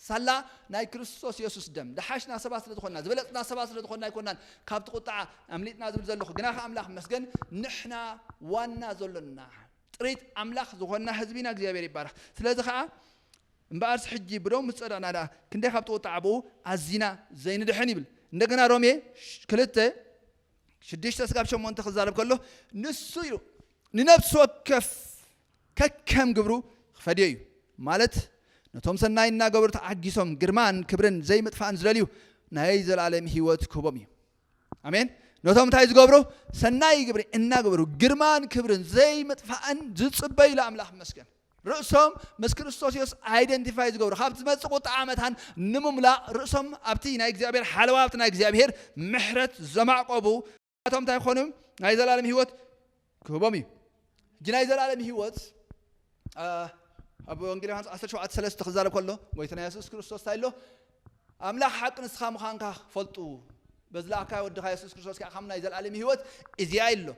ሳላ ናይ ክርስቶስ የሱስ ደም ደሓሽና ሰባት ስለ ዝኾንና ዝበለጽና ሰባት ስለ ዝኾንና ኣይኮናን ካብቲ ቁጥዓ ኣምሊጥና ዝብል ዘለኹ ግና ከ ኣምላኽ መስገን ንሕና ዋና ዘሎና ጥሪት ኣምላኽ ዝኾንና ህዝቢና እግዚኣብሔር ይባረኽ ስለዚ ከዓ እምበኣርስ ሕጂ ብደሙ ምስ ጸደቕና ደኣ ክንደይ ካብቲ ቍጥዓ ኣብኡ ኣዚና ዘይንድሕን ይብል። እንደገና ሮሜ ክልተ ሽዱሽተ ስጋብ ሸሞንተ ክዛረብ ከሎ ንሱ ኢሉ ንነፍሲ ወከፍ ከከም ግብሩ ክፈድዮ እዩ ማለት ነቶም ሰናይ እናገበሩ ተዓጊሶም ግርማን ክብርን ዘይምጥፋእን ዝደልዩ ናይ ዘለኣለም ህይወት ክህቦም እዩ። ኣሜን ነቶም እንታይ ዝገብሩ ሰናይ ግብሪ እናገበሩ ግርማን ክብርን ዘይምጥፋእን ዝፅበዩ ለኣምላኽ መስገን ርእሶም ምስ ክርስቶስ ዮስ ኣይደንቲፋይ ዝገብሩ ካብ ዝመፅእ ቁጣ ዓመታን ንምምላእ ርእሶም ኣብቲ ናይ እግዚኣብሔር ሓለዋ ኣብቲ ናይ እግዚኣብሔር ምሕረት ዘማዕቆቡ እቶም እንታይ ክኾኑ ናይ ዘላለም ህይወት ክህቦም እዩ ሕጂ ናይ ዘለኣለም ህይወት ኣብ ወንጌል ዮሃንስ 17 ሰለስተ ክዛረብ ከሎ ጎይትና የሱስ ክርስቶስ እንታይ ኣሎ ኣምላኽ ሓቂ ንስኻ ምዃንካ ፈልጡ በዚ ለኣካዮ ወድኻ የሱስ ክርስቶስ ከዓ ከም ናይ ዘለኣለም ህይወት እዚኣ ኢሎ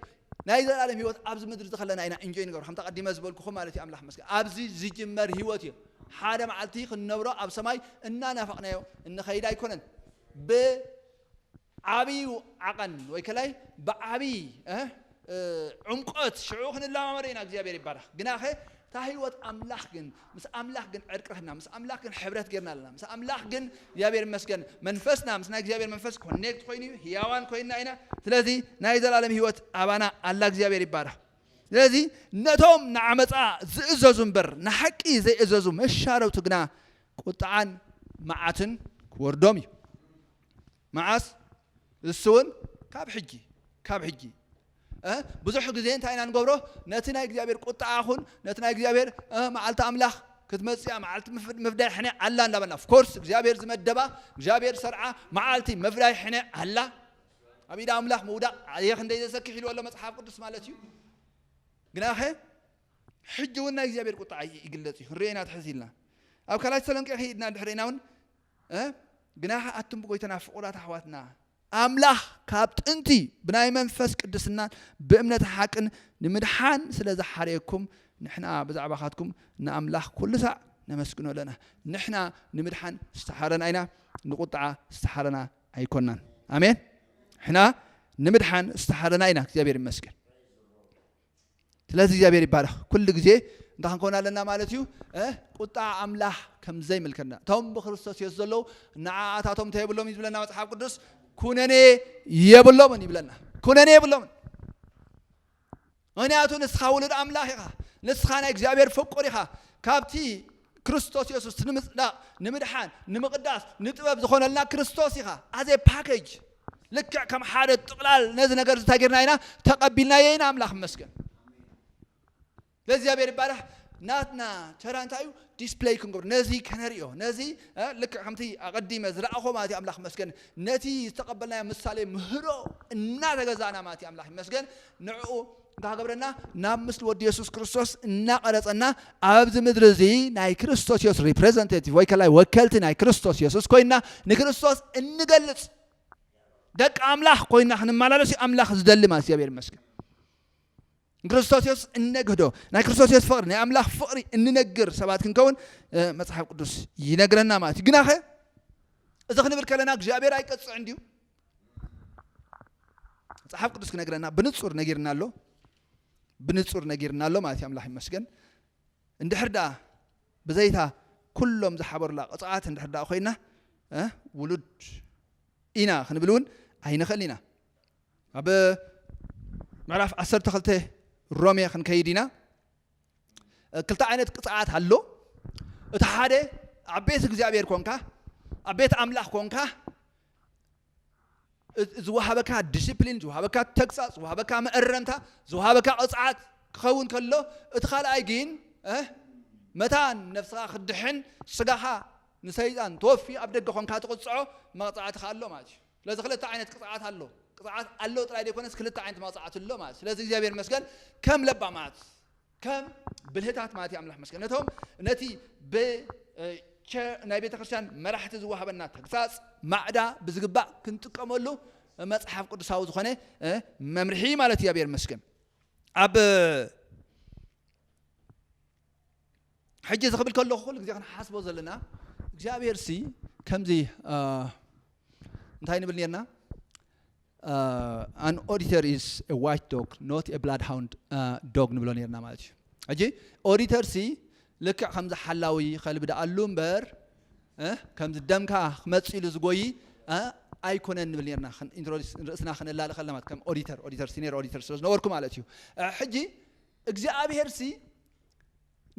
ናይ ዘለኣለም ህይወት ኣብዚ ምድሪ እዚ ከለና ኢና እንጆይ ንገብሮ ከምቲ ቀዲመ ዝበልኩኹ ማለት እዩ ኣምላኽ መስገን ኣብዚ ዝጅመር ህይወት እዩ ሓደ መዓልቲ ክንነብሮ ኣብ ሰማይ እናናፈቕናዮ እንኸይድ ኣይኮነን ብ ዓብዩ ዓቐን ወይ ከላይ ብዓብይ ዑምቆት ሽዑ ክንለማመዶ ኢና እግዚኣብሔር ይባረኽ ግናኸ እታ ህይወት ኣምላኽ ግን ምስ ኣምላኽ ግን ዕርቂ ረኽብና ምስ ኣምላኽ ግን ሕብረት ጌርና ኣለና ምስ ኣምላኽ ግን እግዚኣብሔር ይመስገን መንፈስና ምስ ናይ እግዚኣብሔር መንፈስ ኮኔክት ኮይኑ እዩ ህያዋን ኮይና ኢና ስለዚ ናይ ዘላለም ህይወት ኣባና ኣላ እግዚኣብሔር ይባረኽ ስለዚ ነቶም ንዓመፃ ዝእዘዙ እምበር ንሓቂ ዘይእዘዙ መሻረውቲ ግና ቁጥዓን መዓትን ክወርዶም እዩ መዓስ እሱ እውን ካብ ሕጂ ካብ ሕጂ ብዙሕ ግዜ እንታይ ኢና ንገብሮ ነቲ ናይ እግዚኣብሔር ቁጣዓ ኹን ነቲ ናይ እግዚኣብሔር መዓልቲ ኣምላኽ ክትመፅያ መዓልቲ ምፍዳይ ሕነ ኣላ እንዳበልና ፍኮርስ እግዚኣብሔር ዝመደባ እግዚኣብሔር ሰርዓ መዓልቲ ምፍዳይ ሕነ ኣላ ኣብ ኢዳ ኣምላኽ ምውዳቕ ኣየ ክንደይ ዘሰክሕ ኢልዎ ኣሎ መፅሓፍ ቅዱስ ማለት እዩ ግናኸ ሕጂ እውን ናይ እግዚኣብሔር ቁጣዓ ይግለፅ እዩ ክንሪኦ ኢና ትሕዝ ኢልና ኣብ ካልኣይ ተሰሎንቄ ከይድና ድሕሪና እውን ግናኸ ኣቱም ብጎይታና ፍቑራት ኣሕዋትና፣ ኣምላኽ ካብ ጥንቲ ብናይ መንፈስ ቅድስናን ብእምነት ሓቅን ንምድሓን ስለ ዝሓረየኩም፣ ንሕና ብዛዕባኻትኩም ንኣምላኽ ኩሉ ሳዕ ነመስግኖ ኣለና። ንሕና ንምድሓን ዝተሓረና ኢና፣ ንቁጥዓ ዝተሓረና ኣይኮናን። ኣሜን። ንሕና ንምድሓን ዝተሓረና ኢና። እግዚኣብሔር ይመስገን። ስለዚ እግዚኣብሔር ይባረኽ ኩሉ ግዜ እንታይ ክንከውን ኣለና ማለት እዩ ቁጣዕ ኣምላኽ ከም ዘይምልከና እቶም ብክርስቶስ የሱስ ዘለዉ ንዓኣታቶም እንታይ የብሎም እዩ ዝብለና መፅሓፍ ቅዱስ ኩነኔ የብሎምን ይብለና ኩነኔ የብሎምን ምክንያቱ ንስኻ ውሉድ ኣምላኽ ኢኻ ንስኻ ናይ እግዚኣብሔር ፍቁር ኢኻ ካብቲ ክርስቶስ የሱስ ንምጽዳቕ ንምድሓን ንምቕዳስ ንጥበብ ዝኾነልና ክርስቶስ ኢኻ as a package ልክዕ ከም ሓደ ጥቕላል ነዚ ነገር እንታይ ጌርና ኢና ተቐቢልናዮ ኢና ኣምላኽ መስገን ለእግዚኣብሔር ይባራሕ ናትና ተራ እንታይ እዩ ዲስፕለይ ክንገብር ነዚ ከነርእዮ ነዚ ልክዕ ከምቲ ኣቐዲመ ዝረኣኾ ማለት እዩ ኣምላኽ መስገን ነቲ ዝተቐበልናዮ ምሳሌ ምህሮ እናተገዛእና ማለት እዩ ኣምላኽ ይመስገን ንዕኡ እንታይ ክገብረና ናብ ምስሊ ወዲ የሱስ ክርስቶስ እናቐረጸና ኣብዚ ምድሪ እዚ ናይ ክርስቶስ የሱስ ሪፕሬዘንቴቲቭ ወይ ከላይ ወከልቲ ናይ ክርስቶስ የሱስ ኮይና ንክርስቶስ እንገልጽ ደቂ ኣምላኽ ኮይና ክንመላለስ እዩ ኣምላኽ ዝደሊ ማለት እግዚኣብሔር ይመስገን ንክርስቶስ የሱስ እነግህዶ ናይ ክርስቶስ የሱስ ፍቕሪ ናይ ኣምላኽ ፍቕሪ እንነግር ሰባት ክንከውን መጽሓፍ ቅዱስ ይነግረና ማለት እዩ ግናኸ እዚ ክንብል ከለና እግዚኣብሔር ኣይቀፅዕን ድዩ መጽሓፍ ቅዱስ ክነግረና ብንጹር ነጊርና ኣሎ ብንጹር ነጊርና ኣሎ ማለት እዩ ኣምላኽ ይመስገን እንድሕር ደኣ ብዘይታ ኩሎም ዝሓበሩላ ቅፅዓት እንድሕር ደኣ ኮይና ውሉድ ኢና ክንብል እውን ኣይንኽእል ኢና ኣብ ምዕራፍ 12 ሮሜ ክንከይድ ኢና ክልተ ዓይነት ቅፅዓት ኣሎ እቲ ሓደ ኣብ ቤት እግዚኣብሔር ኮንካ ኣብ ቤት ኣምላኽ ኮንካ ዝወሃበካ ዲሲፕሊን፣ ዝወሃበካ ተግሳጽ፣ ዝወሃበካ መእረምታ፣ ዝወሃበካ ቅጽዓት ክኸውን ከሎ እቲ ካልኣይ ግን መታን ነፍስኻ ክትድሕን ስጋኻ ንሰይጣን ተወፊ ኣብ ደገ ኮንካ ትቕጽዖ መቕጻዕቲ ከኣ ኣሎ ማለት እዩ። ስለዚ ክልተ ዓይነት ቅጽዓት ኣሎ ቅጽዓት ኣሎ ጥራይ ዘይኮነስ ክልተ ዓይነት መቕጻዕቲ ኣሎ ማለት ስለዚ እግዚኣብሔር ይመስገን ከም ለባማት ከም ብልህታት ማለት እዩ ኣምላኽ ይመስገን ነቶም ነቲ ብ ቸር ናይ ቤተክርስትያን መራሕቲ ዝወሃበና ተግሳጽ ማዕዳ ብዝግባእ ክንጥቀመሉ መጽሓፍ ቅዱሳዊ ዝኾነ መምርሒ ማለት እዩ ኣብሔር ይመስገን ኣብ ሕጂ እዚ ክብል ከለኹ ኩሉ ግዜ ክንሓስቦ ዘለና እግዚኣብሄር ሲ ከምዚ እንታይ ንብል ነርና ኣን ኦዲተር ኢዝ ኤ ዋች ዶግ ኖት ኤ ብላድ ሃውንድ ዶግ ንብሎ ነርና ማለት እዩ ሕጂ ኦዲተር ሲ ልክዕ ከምዚ ሓላዊ ከልቢ ደኣሉ እምበር ከምዚ ደምካ ክመፅ ኢሉ ዝጎይ ኣይኮነን ንብል ነርና ርእስና ክነላሊ ከለና ማለት ከም ኦዲተር ኦዲተር ሲኒየር ኦዲተር ስለ ዝነበርኩ ማለት እዩ ሕጂ እግዚኣብሄር ሲ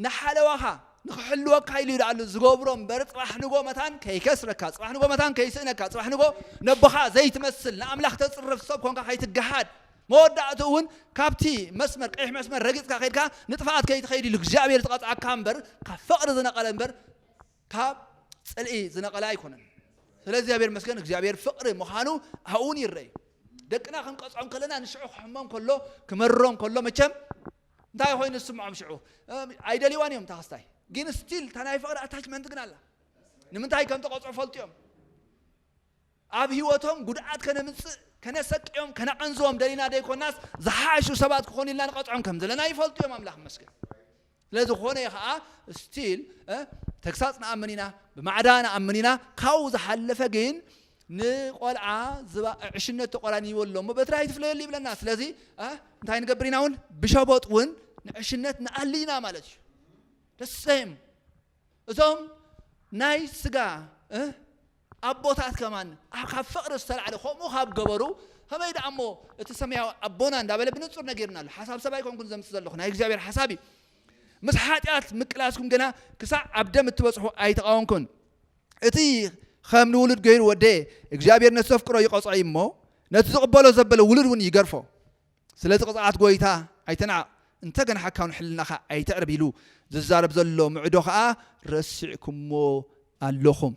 ንሓለዋኻ ንኽሕልወካ ኢሉ እዩ ደኣሉ ዝገብሮ እምበር ጽባሕ ንጎ መታን ከይከስረካ፣ ጽባሕ ንጎ መታን ከይስእነካ፣ ጽባሕ ንጎ ነቦኻ ዘይትመስል፣ ንኣምላኽ ተጽርፍ ሰብ ኮንካ ከይትገሃድ፣ መወዳእትኡ እውን ካብቲ መስመር ቀይሕ መስመር ረጊጽካ ከይድካ ንጥፍኣት ከይትኸይድ ኢሉ እግዚኣብሔር ዝቐጽዓካ እምበር ካብ ፍቕሪ ዝነቐለ እምበር ካብ ጽልኢ ዝነቐለ ኣይኮነን። ስለ እግዚኣብሔር መስገን እግዚኣብሔር ፍቕሪ ምዃኑ ኣብኡውን ይረእ እዩ። ደቅና ክንቀጽዖም ከለና ንሽዑ ክሕሞም ከሎ ክመርሮም ከሎ መቸም እንታይ ኮይኑ ዝስምዖም ሽዑ ኣይደልዋን እዮም ታክስታይ ግን ስቲል እታ ናይ ፍቅሪ ኣታችመንት ግን ኣላ ንምንታይ ከም ተቆፅዑ ፈልጡ እዮም ኣብ ህይወቶም ጉድኣት ከነምፅእ ከነሰቅዮም ከነቐንዝቦም ደሊና ደይኮናስ ዝሓሹ ሰባት ክኾኑ ኢልና ንቐፅዖም ከም ዘለና ይፈልጡ እዮም ኣምላኽ መስገን ስለዝኾነ ከዓ ስቲል ተግሳፅ ንኣምን ኢና ብማዕዳ ንኣምን ኢና ካብኡ ዝሓለፈ ግን ንቆልዓ ዝባ ዕሽነት ተቆራኒዎ ኣሎ እሞ በትሪ ኣይትፍለየሉ ይብለና ስለዚ እንታይ ንገብር ኢና እውን ብሸበጥ እውን ንዕሽነት ንኣሊ ኢና ማለት እዩ ደሰም እዞም ናይ ስጋ ኣቦታት ከማን ካብ ፍቕሪ ዝተላዕለ ከምኡ ካብ ገበሩ ከመይ ደኣ እሞ እቲ ሰማያዊ ኣቦና እንዳበለ ብንጹር ነጊርና ኣሎ ሓሳብ ሰብ ኣይኮንኩን ዘምፅ ዘለኹ ናይ እግዚኣብሔር ሓሳብ እዩ ምስ ሓጢኣት ምቅላስኩም ግና ክሳዕ ኣብ ደም እትበፅሑ ኣይተቃወምኩን እቲ ኸም ንውሉድ ገይሩ ወደየ እግዚኣብሔር ነቲ ዘፍቅሮ ይቐጽዖ እዩ እሞ ነቲ ዝቕበሎ ዘበለ ውሉድ እውን ይገርፎ ስለዚ ቅፅዓት ጎይታ ኣይተናዕቕ እንተገና ሓካውን ሕልናኻ ኣይተዕርብ ኢሉ ዝዛረብ ዘሎ ምዕዶ ከዓ ረሲዕኩሞ ኣለኹም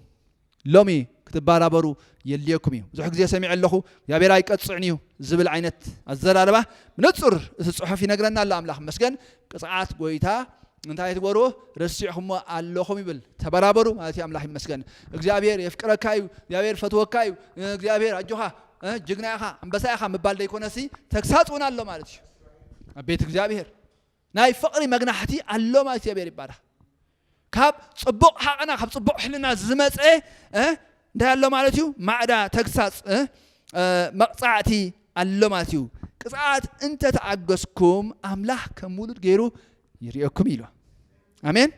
ሎሚ ክትባራበሩ የድልየኩም እዩ ብዙሕ ግዜ ሰሚዐ ኣለኹ እግዚኣብሔር ኣይቀፅዕን እዩ ዝብል ዓይነት ኣዘራርባ ብንፁር እቲ ፅሑፍ ይነግረና ኣሎ ኣምላኽ መስገን ቅፅዓት ጎይታ እንታይ ትበሩ ረሲዕኹሞ ኣለኹም ይብል ተበራበሩ ማለት እዩ ኣምላኽ ይመስገን እግዚኣብሔር የፍቅረካ እዩ እግዚኣብሔር ፈትወካ እዩ እግዚኣብሔር ኣጆኻ ጅግና ኢኻ ኣንበሳ ኢኻ ምባል ዘይኮነሲ ተግሳፅ እውን ኣሎ ማለት እዩ ኣብ ቤት እግዚኣብሔር ናይ ፍቕሪ መግናሕቲ ኣሎ ማለት እግዚኣብሔር ይባረኽ ካብ ጽቡቕ ሃቐና ካብ ጽቡቕ ሕልና ዝመጸ እንታይ ኣሎ ማለት እዩ ማዕዳ ተግሳጽ መቕጻዕቲ ኣሎ ማለት እዩ ቅጽዓት እንተ ተኣገስኩም ኣምላኽ ከም ውሉድ ገይሩ ይርእየኩም ኢሉ ኣሜን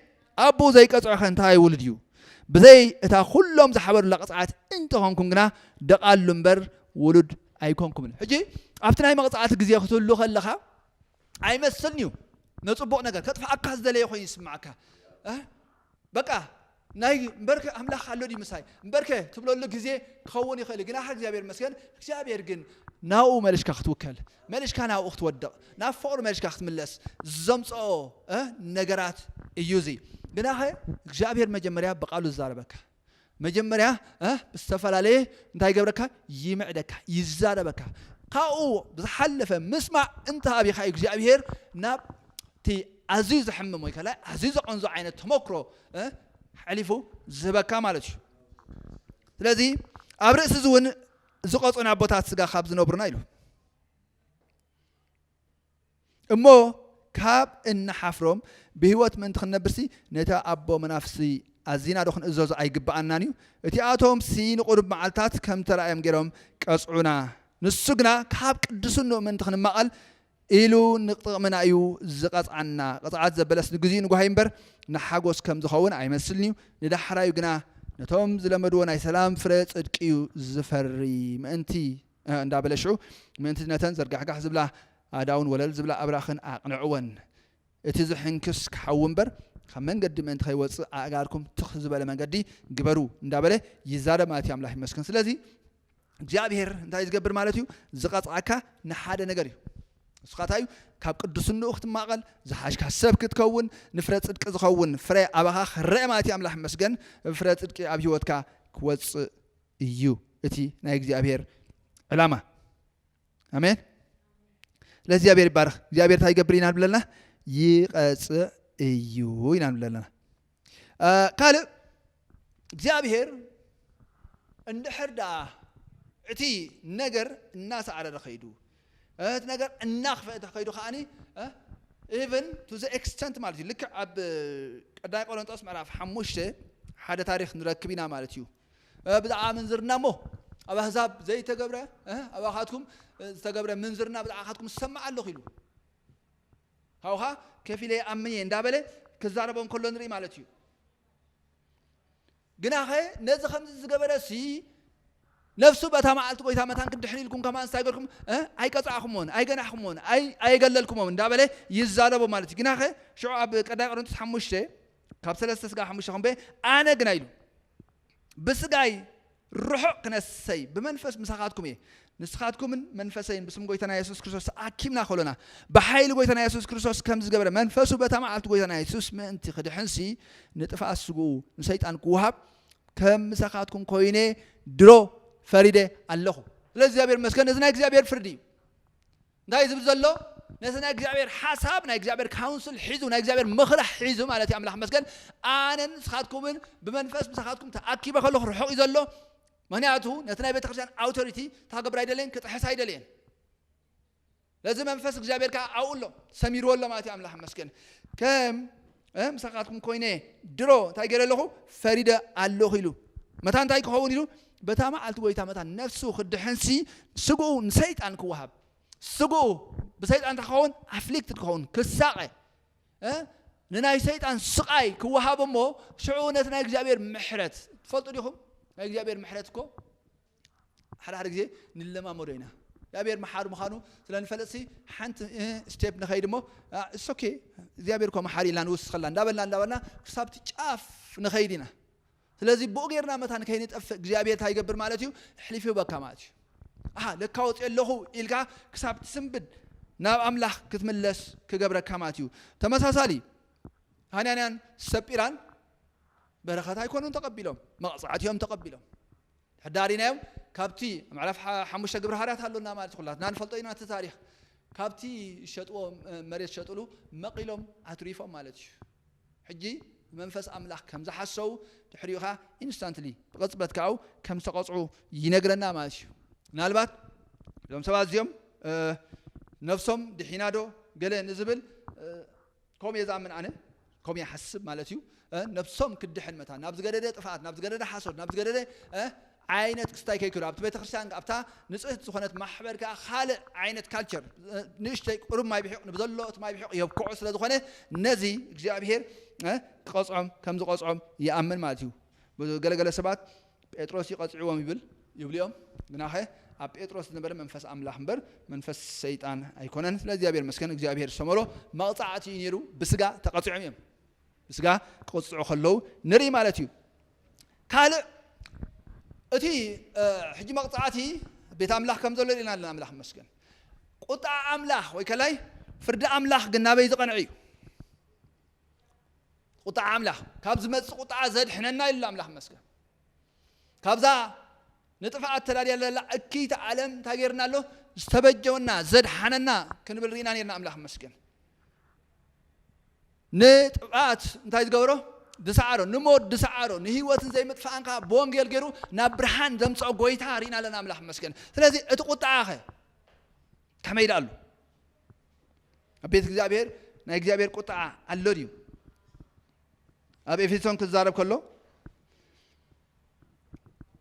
ኣቦ ዘይቀጽዖ ከ እንታይ ውሉድ እዩ ብዘይ እታ ኩሎም ዝሓበሩላ ቅጽዓት እንተኾንኩም ግና ደቓሉ እምበር ውሉድ ኣይኮንኩምን ሕጂ ኣብቲ ናይ መቕጻዕቲ ግዜ ክትህሉ ከለኻ ኣይመስልን እዩ ነጽቡቕ ነገር ከጥፍኣካ ዝደለየ ኮይኑ ይስምዓካ በቃ ናይ እምበርከ ኣምላኽ ኣሎ ድዩ ምሳይ እምበርከ ትብለሉ ግዜ ክኸውን ይኽእል ግናኸ እግዚኣብሔር መስገን እግዚኣብሔር ግን ናብኡ መልሽካ ክትውከል መልሽካ ናብኡ ክትወድቕ ናብ ፍቕሩ መልሽካ ክትምለስ ዘምፅኦ ነገራት እዩ እዚ ግናኸ እግዚኣብሔር መጀመርያ ብቃሉ ዝዛረበካ መጀመርያ ዝተፈላለየ እንታይ ይገብረካ ይምዕደካ ይዛረበካ ካብኡ ብዝሓለፈ ምስማዕ እንተ ኣብኻ እዩ እግዚኣብሄር ናብ እቲ ኣዝዩ ዘሕምም ወይ ከላይ ኣዝዩ ዘቐንዞ ዓይነት ተመክሮ ሕሊፉ ዝህበካ ማለት እዩ ስለዚ ኣብ ርእሲ እዚ እውን ዝቐፁን ኣቦታት ስጋ ካብ ዝነብሩና ኢሉ እሞ ካብ እንሓፍሮም ብህይወት ምእንቲ ክንነብርሲ ነቲ ኣቦ መናፍስቲ ኣዚናዶ ክንእዘዞ ኣይግብኣናን እዩ? እቲኣቶምሲ ንቕሩብ መዓልትታት ከም ተራእዮም ገይሮም ቀጽዑና፣ ንሱ ግና ካብ ቅድስንኡ ምእንቲ ክንማቐል ኢሉ ንጥቕምና እዩ ዝቐጽዓና። ቅጽዓት ዘበለስ ንግዜኡ ንጓሂ እምበር ንሓጎስ ከም ዝኸውን ኣይመስልን እዩ፣ ንዳሕራዩ ግና ነቶም ዝለመድዎ ናይ ሰላም ፍረ ጽድቂ እዩ ዝፈሪ ምእንቲ እንዳበለ ሽዑ ምእንቲ ነተን ዘርጋሕጋሕ ዝብላ ኣእዳውን ወለል ዝብላ ኣብራኽን ኣቕንዕወን። እቲ ዝሕንክስ ክሓዊ እምበር ካብ መንገዲ ምእንቲ ከይወጽእ ኣእጋርኩም ትኽ ዝበለ መንገዲ ግበሩ እንዳበለ ይዛረብ ማለት እዩ። ኣምላኽ ይመስገን። ስለዚ እግዚኣብሄር እንታይ እዩ ዝገብር ማለት እዩ? ዝቐጽዓካ ንሓደ ነገር እዩ። ንስኻ እንታይ እዩ ካብ ቅዱስንኡ ክትማቐል ዝሓሽካ ሰብ ክትከውን ንፍረ ፅድቂ ዝኸውን ፍረ ኣባኻ ክረአ ማለት እዩ ኣምላኽ መስገን ፍረ ፅድቂ ኣብ ሂወትካ ክወፅእ እዩ እቲ ናይ እግዚኣብሔር ዕላማ ኣሜን ለእግዚኣብሔር ይባረኽ እግዚኣብሔር እንታይ ይገብር ኢና ንብለና ይቐፅዕ እዩ ኢና ንብለና ካልእ እግዚኣብሔር እንድሕር ደኣ እቲ ነገር እናሳዕረረ ከይዱ እቲ ነገር እናኽፈአ ተኸይዱ ከዓኒ ኢቨን ቱ ዘ ኤክስተንት ማለት እዩ ልክዕ ኣብ ቀዳይ ቆሮንጦስ ምዕራፍ ሓሙሽተ ሓደ ታሪክ ንረክብ ኢና ማለት እዩ ብዛዕባ ምንዝርና እሞ ኣብ ኣህዛብ ዘይተገብረ ኣባኻትኩም ዝተገብረ ምንዝርና ብዛዕባኻትኩም ዝሰማዕ ኣለኹ ኢሉ ካብኡ ከዓ ከፊለ ይኣምን እየ እንዳበለ ክዛረቦ እንከሎ ንርኢ ማለት እዩ ግናኸ ነዚ ከምዚ ዝገበረ ሲ ነፍሱ በታ መዓልቲ ጎይታ መታን ክድሕን ኢልኩም ከማን እንታይ ገርኩም ኣይቀፃዕኹምዎን ኣይገናሕኩምዎን ኣየገለልኩምዎም እንዳበለ ይዛረቦ ማለት እዩ ግናኸ ሽዑ ኣብ ቀዳይ ቆሮንቶስ ሓሙሽተ ካብ ሰለስተ ስጋ ሓሙሽተ ክንበ ኣነ ግና ኢሉ ብስጋይ ርሑቕ ክነሰይ ብመንፈስ ምሳኻትኩም እየ ንስኻትኩምን መንፈሰይን ብስም ጎይታና የሱስ ክርስቶስ ተኣኪብና ከሎና ብሓይሊ ጎይታና የሱስ ክርስቶስ ከም ዝገበረ መንፈሱ በታ መዓልቲ ጎይታና የሱስ ምእንቲ ክድሕንሲ ንጥፍኣት ስግኡ ንሰይጣን ክውሃብ ከም ምሳኻትኩም ኮይነ ድሮ ፈሪደ ኣለኹ ስለ እግዚኣብሔር መስገን እዚ ናይ እግዚኣብሔር ፍርዲ እዩ እንታይ ዝብል ዘሎ ነቲ ናይ እግዚኣብሔር ሓሳብ ናይ እግዚኣብሔር ካውንስል ሒዙ ናይ እግዚኣብሔር ምኽሪ ሒዙ ማለት እዩ ኣምላኽ ይመስገን ኣነን ንስኻትኩምን ብመንፈስ ምሳኻትኩም ተኣኪበ ከለኹ ርሑቕ እዩ ዘሎ ምክንያቱ ነቲ ናይ ቤተክርስትያን ኣውቶሪቲ ታገብር ኣይደለየን ክጥሕስ ኣይደለየን ለዚ መንፈስ እግዚኣብሔር ከዓ ኣብኡ ኣሎ ሰሚርዎ ኣሎ ማለት እዩ ኣምላኽ ይመስገን ከም ምሳኻትኩም ኮይነ ድሮ እንታይ ገይረ ኣለኹ ፈሪደ ኣለኹ ኢሉ መታ እንታይ ክኸውን ኢሉ በታ መዓልቲ ጐይታ መታን ነፍሱ ክድሕንሲ ስግኡ ንሰይጣን ክወሃብ ስግኡ ብሰይጣን እንታይ ክኸውን ኣፍሊክትድ ክኸውን ክሳቐ ንናይ ሰይጣን ስቓይ ክወሃብ እሞ ሽዑ ነቲ ናይ እግዚኣብሔር ምሕረት ትፈልጡ ዲኹም ናይ እግዚኣብሔር ምሕረት እኮ ሓደ ሓደ ግዜ ንለማመዶ ኢና እግዚኣብሔር መሓሪ ምዃኑ ስለ ንፈልጥሲ ሓንቲ ስቴፕ ንኸይድ እሞ እሶኬ እግዚኣብሔር እኮ መሓሪ ኢልና ንውስኸላ እንዳበልና እንዳበልና ክሳብቲ ጫፍ ንኸይድ ኢና ስለዚ ብኡ ጌርና መታን ከይንጠፍእ እግዚኣብሄር እንታይ ይገብር ማለት እዩ ኣሕሊፉ ይህበካ ማለት እዩ ኣሃ ለካ ወፂኦ ኣለኹ ኢልካ ክሳብ ትስንብድ ናብ ኣምላኽ ክትምለስ ክገብረካ ማለት እዩ ተመሳሳሊ ሃንያንያን ሰጲራን በረኸት ኣይኮኑን ተቐቢሎም መቕፃዕቲ እዮም ተቐቢሎም ሕዳሪናዮም ካብቲ ምዕራፍ ሓሙሽተ ግብረ ሃርያት ኣሎና ማለት ኩላትና ንፈልጦ ኢና እቲ ታሪክ ካብቲ ሸጥዎ መሬት ሸጥሉ መቂሎም ኣትሪፎም ማለት እዩ ሕጂ ብመንፈስ ኣምላኽ ከም ዝሓሰዉ ድሕሪኡ ከኣ instantly ብቕጽበት ከኣ ከም ዝተቐጽዑ ይነግረና ማለት እዩ። ምናልባት እዞም ሰባት እዚኦም ነፍሶም ድሒናዶ ገለ ንዝብል ከምኡ እየ ዝኣምን ኣነ ከምኡ ይሓስብ ማለት እዩ ነብሶም ክትድሕን መታን ናብ ዝገደደ ጥፍኣት ናብ ዝገደደ ሓሶት ናብ ዝገደደ ዓይነት ክስታይ ከይክእሉ ኣብቲ ቤተክርስትያን ኣብታ ንጽህቲ ዝኾነት ማሕበር ከኣ ካልእ ዓይነት ካልቸር ንእሽተይ ቁሩብ ማይ ብሒቕ ንብዘሎ እቲ ማይ ብሒቕ የብክዖ ስለ ዝኾነ ነዚ እግዚኣብሄር ክቐጽዖም ከም ዝቐጽዖም ይኣምን ማለት እዩ ገለ ገለ ሰባት ጴጥሮስ እዩ ቀጺዕዎም ይብል ይብሉ እዮም ግናኸ ኣብ ጴጥሮስ ዝነበረ መንፈስ ኣምላኽ እምበር መንፈስ ሰይጣን ኣይኮነን ስለ እግዚኣብሄር መስገን እግዚኣብሄር ዝሰመሮ መቕጻዕቲ እዩ ነይሩ ብስጋ ተቐጺዖም እዮም ብስጋ ክቕጽዑ ከለዉ ንርኢ ማለት እዩ ካልእ እቲ ሕጂ መቕጻዕቲ ቤት ኣምላኽ ከም ዘሎ ርኢና ኣለና ኣምላኽ መስገን ቁጣ ኣምላኽ ወይ ከላይ ፍርዲ ኣምላኽ ግን ናበይ ዝቐንዐ እዩ ቁጣ ኣምላኽ ካብ ዝመፅእ ቁጣ ዘድሕነና ኢሉ ኣምላኽ መስገን ካብዛ ንጥፍኣት ተዳልያ ዘላ እክይቲ ዓለም እንታይ ጌርና ኣሎ ዝተበጀወና ዘድሓነና ክንብል ርኢና ነርና ኣምላኽ መስገን ንጥፍኣት እንታይ ዝገበሮ? ዝሰዓሮ። ንሞት ዝሰዓሮ፣ ንህይወትን ዘይምጥፋእን ከኣ ብወንጌል ገይሩ ናብ ብርሃን ዘምጽኦ ጐይታ ርኢና ኣለና፣ ኣምላኽ ይመስገን። ስለዚ እቲ ቍጥዓኸ ከመይ ደኣ ኣሉ? ኣብ ቤት እግዚኣብሔር ናይ እግዚኣብሔር ቍጥዓ ኣሎ ድዩ? ኣብ ኤፌሶን ክዛረብ ከሎ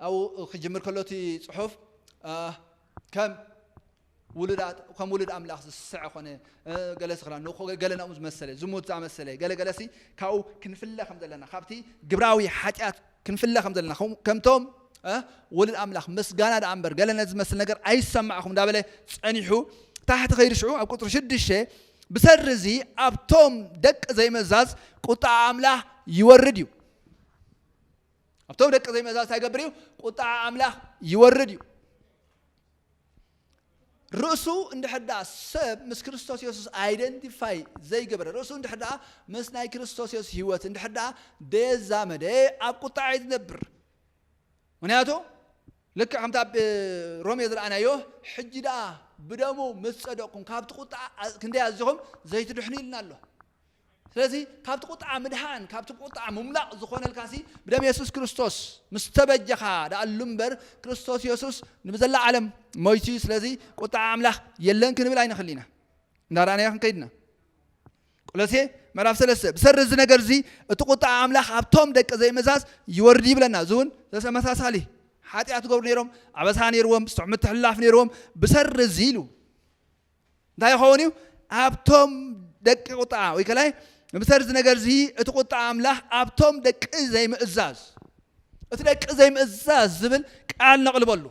ኣብኡ ክጅምር ከሎ እቲ ጽሑፍ ከም ውሉዳት ከም ውሉድ ኣምላኽ ዝስሰዐ ኮነ ገለሲ ክላ ንኮ ገለ ናብኡ ዝመሰለ ዝሙት ዝኣመሰለ ገለ ገለሲ ካብኡ ክንፍለ ከም ዘለና ካብቲ ግብራዊ ሓጢኣት ክንፍለ ከም ዘለና ከምቶም ወልድ ኣምላኽ ምስጋና ደኣ እምበር ገለ ነዚ ዝመስል ነገር ኣይሰማዕኹም እንዳበለ ጸኒሑ ታሕቲ ከይዲ ሽዑ ኣብ ቁፅሪ ሽዱሽተ ብሰሪ እዚ ኣብቶም ደቂ ዘይመዛዝ ቁጣዓ ኣምላኽ ይወርድ እዩ ኣብቶም ደቂ ዘይመዛዝ እንታይ ይገብር እዩ ቁጣዓ ኣምላኽ ይወርድ እዩ ርእሱ እንድሕር ደኣ ሰብ ምስ ክርስቶስ የሱስ ኣይደንቲፋይ ዘይገበረ፣ ርእሱ እንድሕር ደኣ ምስ ናይ ክርስቶስ የሱስ ህይወት እንድሕር ደኣ ደየዛመደ ኣብ ቁጥዓ እዩ ዝነብር። ምክንያቱ ልክዕ ከምቲ ኣብ ሮሜ ዝረኣናዮ ሕጂ ደኣ ብደሙ ምስ ጸደቕኩም ካብቲ ቁጥዓ ክንደይ ኣዚኹም ዘይትድሕኑ ኢልና ኣሎ። ስለዚ ካብቲ ቁጥዓ ምድሓን ካብቲ ቁጥዓ ምምላቕ ዝኾነልካሲ ብደም የሱስ ክርስቶስ ምስ ተበጀኻ ድኣሉ እምበር ክርስቶስ የሱስ ንብዘላ ዓለም ሞይቱ እዩ ስለዚ ቁጥዓ ኣምላኽ የለን ክንብል ኣይንኽል ኢና እንዳረኣናዮ ክንከይድ ኢና ቆሎሴ ምዕራፍ ሰለስተ ብሰሪ እዚ ነገር እዚ እቲ ቁጥዓ ኣምላኽ ኣብቶም ደቂ ዘይመዛዝ ይወርድ ይብለና እዚ እውን ተመሳሳሊ ሓጢኣት ገብሩ ነይሮም ኣበሳ ነይርዎም ስቱዕ ምትሕልላፍ ነይርዎም ብሰሪ እዚ ኢሉ እንታይ ይኸውን እዩ? ኣብቶም ደቂ ቁጥዓ ወይ ከላይ ምሰር እዚ ነገር እዚ እቲ ቁጥዓ ኣምላኽ ኣብቶም ደቂ ዘይምእዛዝ እቲ ደቂ ዘይምእዛዝ ዝብል ቃል ነቕልበሉ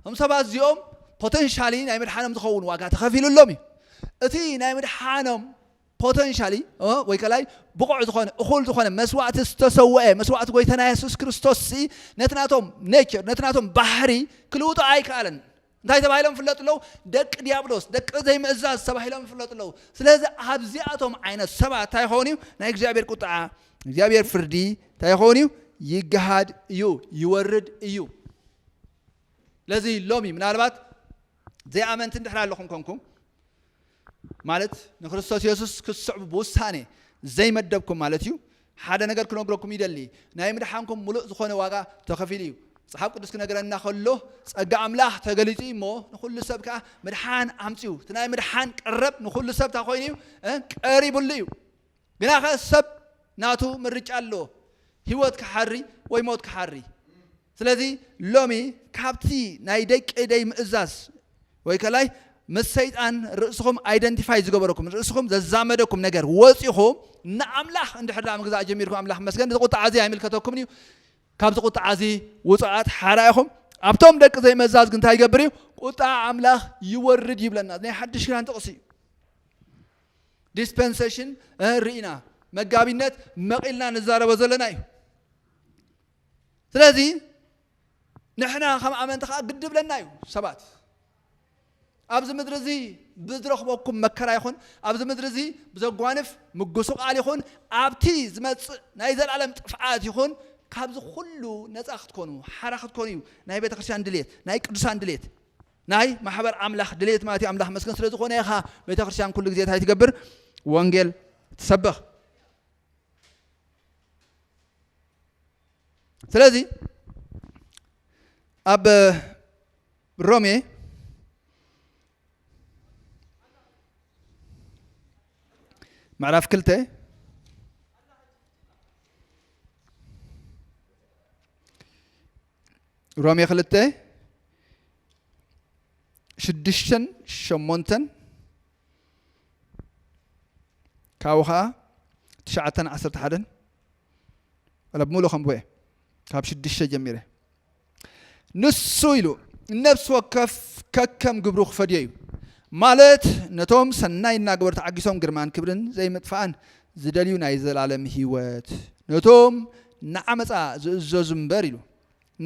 እም ሰባት እዚኦም ፖተንሻሊ ናይ ምድሓኖም ዝኸውን ዋጋ ተኸፊሉሎም እዩ እቲ ናይ ምድሓኖም ፖተንሻሊ ወይ ከላይ ብቑዕ ዝኾነ እኹል ዝኾነ መስዋእቲ ዝተሰወአ መስዋእቲ ጎይታና የሱስ ክርስቶስ ነቲ ናቶም ኔቸር ነቲ ናቶም ባህሪ ክልውጦ ኣይከኣለን እንታይ ተባሂሎም ይፍለጡ ኣለዉ? ደቂ ድያብሎስ፣ ደቂ ዘይምእዛዝ ተባሂሎም ይፍለጡ ኣለዉ። ስለዚ ኣብዚኣቶም ዓይነት ሰባት እንታይ ይኸውን እዩ? ናይ እግዚኣብሔር ቁጥዓ፣ እግዚኣብሔር ፍርዲ እንታይ ይኸውን እዩ? ይገሃድ እዩ፣ ይወርድ እዩ። ስለዚ ሎሚ ምናልባት ዘይኣመንቲ እንድሕር ኣለኹም ኮንኩም ማለት ንክርስቶስ የሱስ ክትስዕቡ ብውሳኔ ዘይመደብኩም ማለት እዩ። ሓደ ነገር ክነግረኩም ይደሊ ናይ ምድሓንኩም ምሉእ ዝኾነ ዋጋ ተኸፊሉ እዩ። መጽሓፍ ቅዱስ ክነግረና ከሎ ጸጋ ኣምላኽ ተገሊጹ እዩ እሞ ንኹሉ ሰብ ከኣ ምድሓን ኣምጺኡ። እቲ ናይ ምድሓን ቀረብ ንኹሉ ሰብ እንታይ ኮይኑ እዩ? ቀሪብሉ እዩ። ግናኸ ሰብ ናቱ ምርጫ ኣለዎ፣ ህይወት ክሓሪ ወይ ሞት ክሓሪ። ስለዚ ሎሚ ካብቲ ናይ ደቂ ደይ ምእዛዝ ወይ ከላይ ምስ ሰይጣን ርእስኹም ኣይደንቲፋይ ዝገበረኩም ርእስኹም ዘዛመደኩም ነገር ወፂኹም ንኣምላኽ እንድሕር ደኣ ምግዛእ ጀሚርኩም ኣምላኽ መስገን እዚ ቁጥዓ እዚ ኣይምልከተኩምን እዩ ካብዚ ቁጥዓ እዚ ውፅዓት ሓራ ኢኹም ኣብቶም ደቂ ዘይመዛዝ ግን እንታይ ይገብር እዩ ቁጣ ኣምላኽ ይወርድ ይብለና ናይ ሓድሽ ኪዳን ጥቕሲ እዩ ዲስፐንሰሽን ርኢና መጋቢነት መቒልና ንዛረቦ ዘለና እዩ ስለዚ ንሕና ከም ኣመንቲ ከዓ ግዲ ብለና እዩ ሰባት ኣብዚ ምድሪ እዚ ብዝረኽበኩም መከራ ይኹን ኣብዚ ምድሪ እዚ ብዘጓንፍ ምጉስቓል ይኹን ኣብቲ ዝመፅእ ናይ ዘላለም ጥፍዓት ይኹን ካብዚ ኩሉ ነፃ ክትኮኑ ሓራ ክትኮኑ እዩ ናይ ቤተ ክርስቲያን ድሌት ናይ ቅዱሳን ድሌት ናይ ማሕበር ኣምላኽ ድሌት ማለት እዩ ኣምላኽ መስገን ስለ ዝኾነ ኢኻ ቤተ ክርስቲያን ኩሉ ግዜ እንታይ ትገብር ወንጌል ትሰብኽ ስለዚ ኣብ ሮሜ ምዕራፍ ክልተ ሮሜ ክልተ ሽዱሽተን ሸሞንተን ካብኡ ከዓ ትሽዓተን ዓሰርተ ሓደን ወላ ብምሉእ ከምቦ እየ ካብ ሽዱሽተ ጀሚረ ንሱ ኢሉ ነፍሲ ወከፍ ከከም ግብሩ ክፈድዮ እዩ ማለት ነቶም ሰናይ እናገበሩ ተዓጊሶም ግርማን ክብርን ዘይምጥፋእን ዝደልዩ ናይ ዘልኣለም ህይወት ነቶም ንዓመጻ ዝእዘዙ እምበር ኢሉ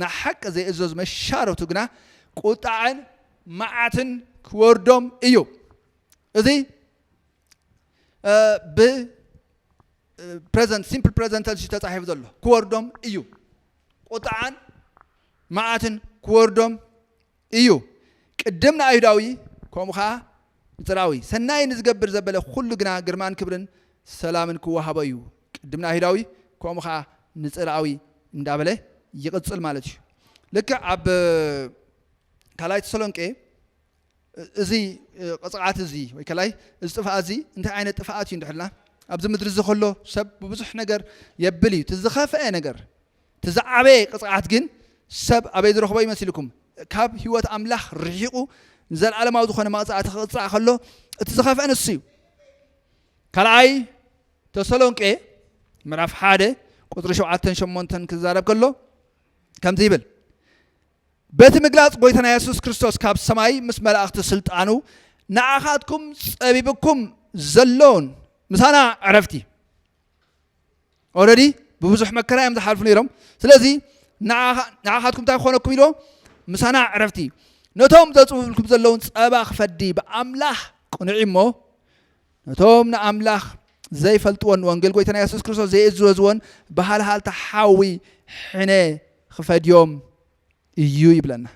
ንሓቂ ዘይእዘዙ መሻርኽቱ ግና ቁጥዐን መዓትን ክወርዶም እዩ እዚ ብ ፕረዘንት ሲምፕል ፕረዘንት ተንስ ተጻሒፉ ዘሎ ክወርዶም እዩ ቁጥዓን መዓትን ክወርዶም እዩ። ቅድም ንኣይሁዳዊ ከምኡ ኸኣ ንጽርኣዊ፣ ሰናይ ንዝገብር ዘበለ ዅሉ ግና ግርማን ክብርን ሰላምን ኪወሃቦ እዩ። ቅድም ንኣይሁዳዊ ከምኡ ኸኣ ንጽርኣዊ እንዳበለ ይቕጽል ማለት እዩ። ልክዕ ኣብ ካልኣይ ተሰሎንቄ እዚ ቕጽዓት እዚ ወይ ከላይ እዚ ጥፍኣት እዚ እንታይ ዓይነት ጥፍኣት እዩ እንድሕር ኢልና ኣብዚ ምድሪ እዚ ከሎ ሰብ ብብዙሕ ነገር የብል እዩ። እቲ ዝኸፍአ ነገር እቲ ዝዓበየ ቅጽዓት ግን ሰብ ኣበይ ዝረኽቦ ይመስልኩም? ካብ ህይወት ኣምላኽ ርሒቑ ንዘለኣለማዊ ዝኾነ መቕጻዕቲ ክቕጻዕ ከሎ እቲ ዝኸፍአ ንሱ እዩ። ካልኣይ ተሰሎንቄ ምዕራፍ ሓደ ቁፅሪ ሸውዓተን ሸሞንተን ክዛረብ ከሎ ከምዚ ይብል በቲ ምግላፅ ጎይታና የሱስ ክርስቶስ ካብ ሰማይ ምስ መላእኽቲ ስልጣኑ ንዓኻትኩም ጸቢብኩም ዘሎን ምሳና ዕረፍቲ ኦረዲ ብብዙሕ መከራ እዮም ዝሓልፉ ነይሮም ስለዚ ንዓኻትኩም እንታይ ክኾነኩም ኢልዎ ምሳና ዕረፍቲ ነቶም ዘፅውልኩም ዘለውን ፀባ ክፈዲ ብኣምላኽ ቅኑዕ እሞ ነቶም ንኣምላኽ ዘይፈልጥዎን ወንጌል ጎይታና የሱስ ክርስቶስ ዘይእዘዝዎን ብሃልሃልታ ሓዊ ሕነ ክፈድዮም እዩ ይብለና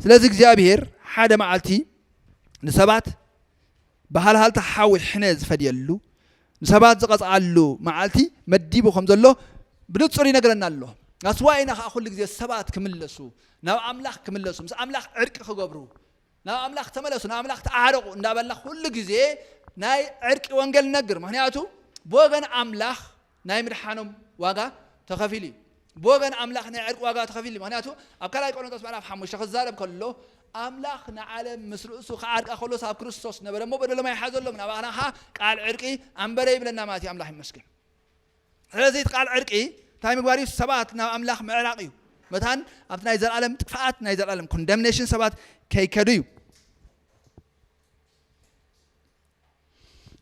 ስለዚ እግዚኣብሄር ሓደ መዓልቲ ንሰባት ብሃልሃልታ ሓዊ ሕነ ዝፈድየሉ ንሰባት ዝቐፅዓሉ መዓልቲ መዲቡ ከም ዘሎ ብንፁር ይነግረና ኣሎ ናስዋ ኢና ከዓ ኩሉ ግዜ ሰባት ክምለሱ ናብ ኣምላኽ ክምለሱ ምስ ኣምላኽ ዕርቂ ክገብሩ ናብ ኣምላኽ ተመለሱ ናብ ኣምላኽ ተዓረቑ እንዳበልና ኩሉ ግዜ ናይ ዕርቂ ወንጌል ነግር ምክንያቱ ብወገን ኣምላኽ ናይ ምድሓኖም ዋጋ ተኸፊሉ እዩ። ብወገን ኣምላኽ ናይ ዕርቂ ዋጋ ተኸፊሉ እዩ። ምክንያቱ ኣብ ካልኣይ ቆሮንቶስ ምዕራፍ ሓሙሽተ ክዛረብ ከሎ ኣምላኽ ንዓለም ምስ ርእሱ ክዓርቃ ከሎስ ኣብ ክርስቶስ ነበረ እሞ በደሎም ኣይሓዘሎምን ኣባና ከኣ ቃል ዕርቂ ኣንበረ ይብለና ማለት እዩ። ኣምላኽ ይመስገን። ስለዚ እቲ ቃል ዕርቂ እንታይ ምግባር እዩ? ሰባት ናብ ኣምላኽ ምዕራቕ እዩ። መታን ኣብቲ ናይ ዘላለም ጥፍኣት ናይ ዘላለም ኮንደምኔሽን ሰባት ከይከዱ እዩ።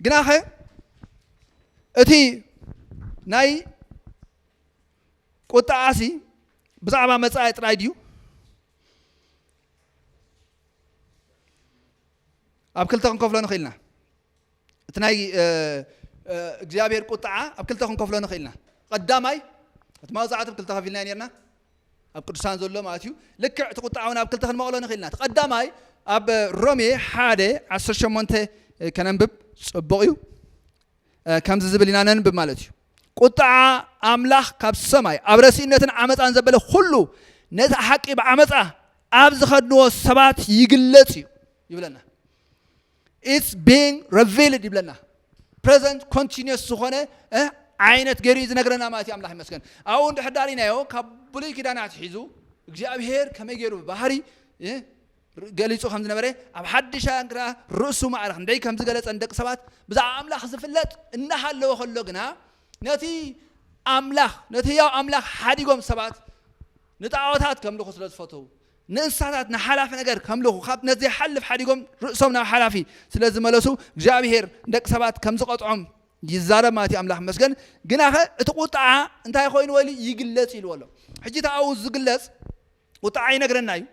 ግናኸ እቲ ናይ ቁጥዓሲ ብዛዕባ መጻኢ ጥራይ ድዩ ኣብ ክልተ ክንከፍሎ ንኽእል ኢና እቲ ናይ እግዚኣብሔር ቁጥዓ ኣብ ክልተ ክንከፍሎ ንኽእል ኢና ቀዳማይ እቲ መቕጻዕቲ ክልተ ከፊልና ነርና ኣብ ቅዱሳን ዘሎ ማለት እዩ ልክዕ እቲ ቁጥዓ እውን ኣብ ክልተ ክንመቕሎ ንኽእል ኢና እቲ ቀዳማይ ኣብ ሮሜ ሓደ ዓሰርተ ሸሞንተ ከነንብብ ፅቡቕ እዩ ከምዚ ዝብል ኢና ነንብብ ማለት እዩ ቁጥዓ ኣምላኽ ካብ ሰማይ ኣብ ረሲእነትን ዓመፃን ዘበለ ኩሉ ነቲ ሓቂ ብዓመፃ ኣብ ዝኸድንዎ ሰባት ይግለፅ እዩ ይብለና ኢትስ ቢንግ ረቪልድ ይብለና ፕረዘንት ኮንቲኒየስ ዝኾነ ዓይነት ገይሩ እዩ ዝነግረና ማለት እዩ ኣምላኽ ይመስገን ኣብኡ እንድሕር ዳሪናዮ ካብ ብሉይ ኪዳን ኣትሒዙ እግዚኣብሄር ከመይ ገይሩ ብባህሪ ገሊፁ ከም ዝነበረ ኣብ ሓድሻ ግና ርእሱ ማዕረ ክንደይ ከም ዝገለፀ ንደቂ ሰባት ብዛዕባ ኣምላኽ ዝፍለጥ እናሃለወ ከሎ ግና ነቲ ኣምላኽ ነቲ ህያው ኣምላኽ ሓዲጎም ሰባት ንጣዖታት ከምልኹ ስለ ዝፈተው ንእንስሳታት ንሓላፊ ነገር ከምልኹ ካብ ነቲ ዘይሓልፍ ሓዲጎም ርእሶም ናብ ሓላፊ ስለ ዝመለሱ እግዚኣብሄር ንደቂ ሰባት ከም ዝቐጥዖም ይዛረብ ማለት እዩ ኣምላኽ መስገን ግናኸ እቲ ቁጥዓ እንታይ ኮይኑ ወይሉ ይግለጽ ኢልዎ ኣሎ ሕጂ እቲ ኣብኡ ዝግለጽ ቁጥዓ ይነግረና እዩ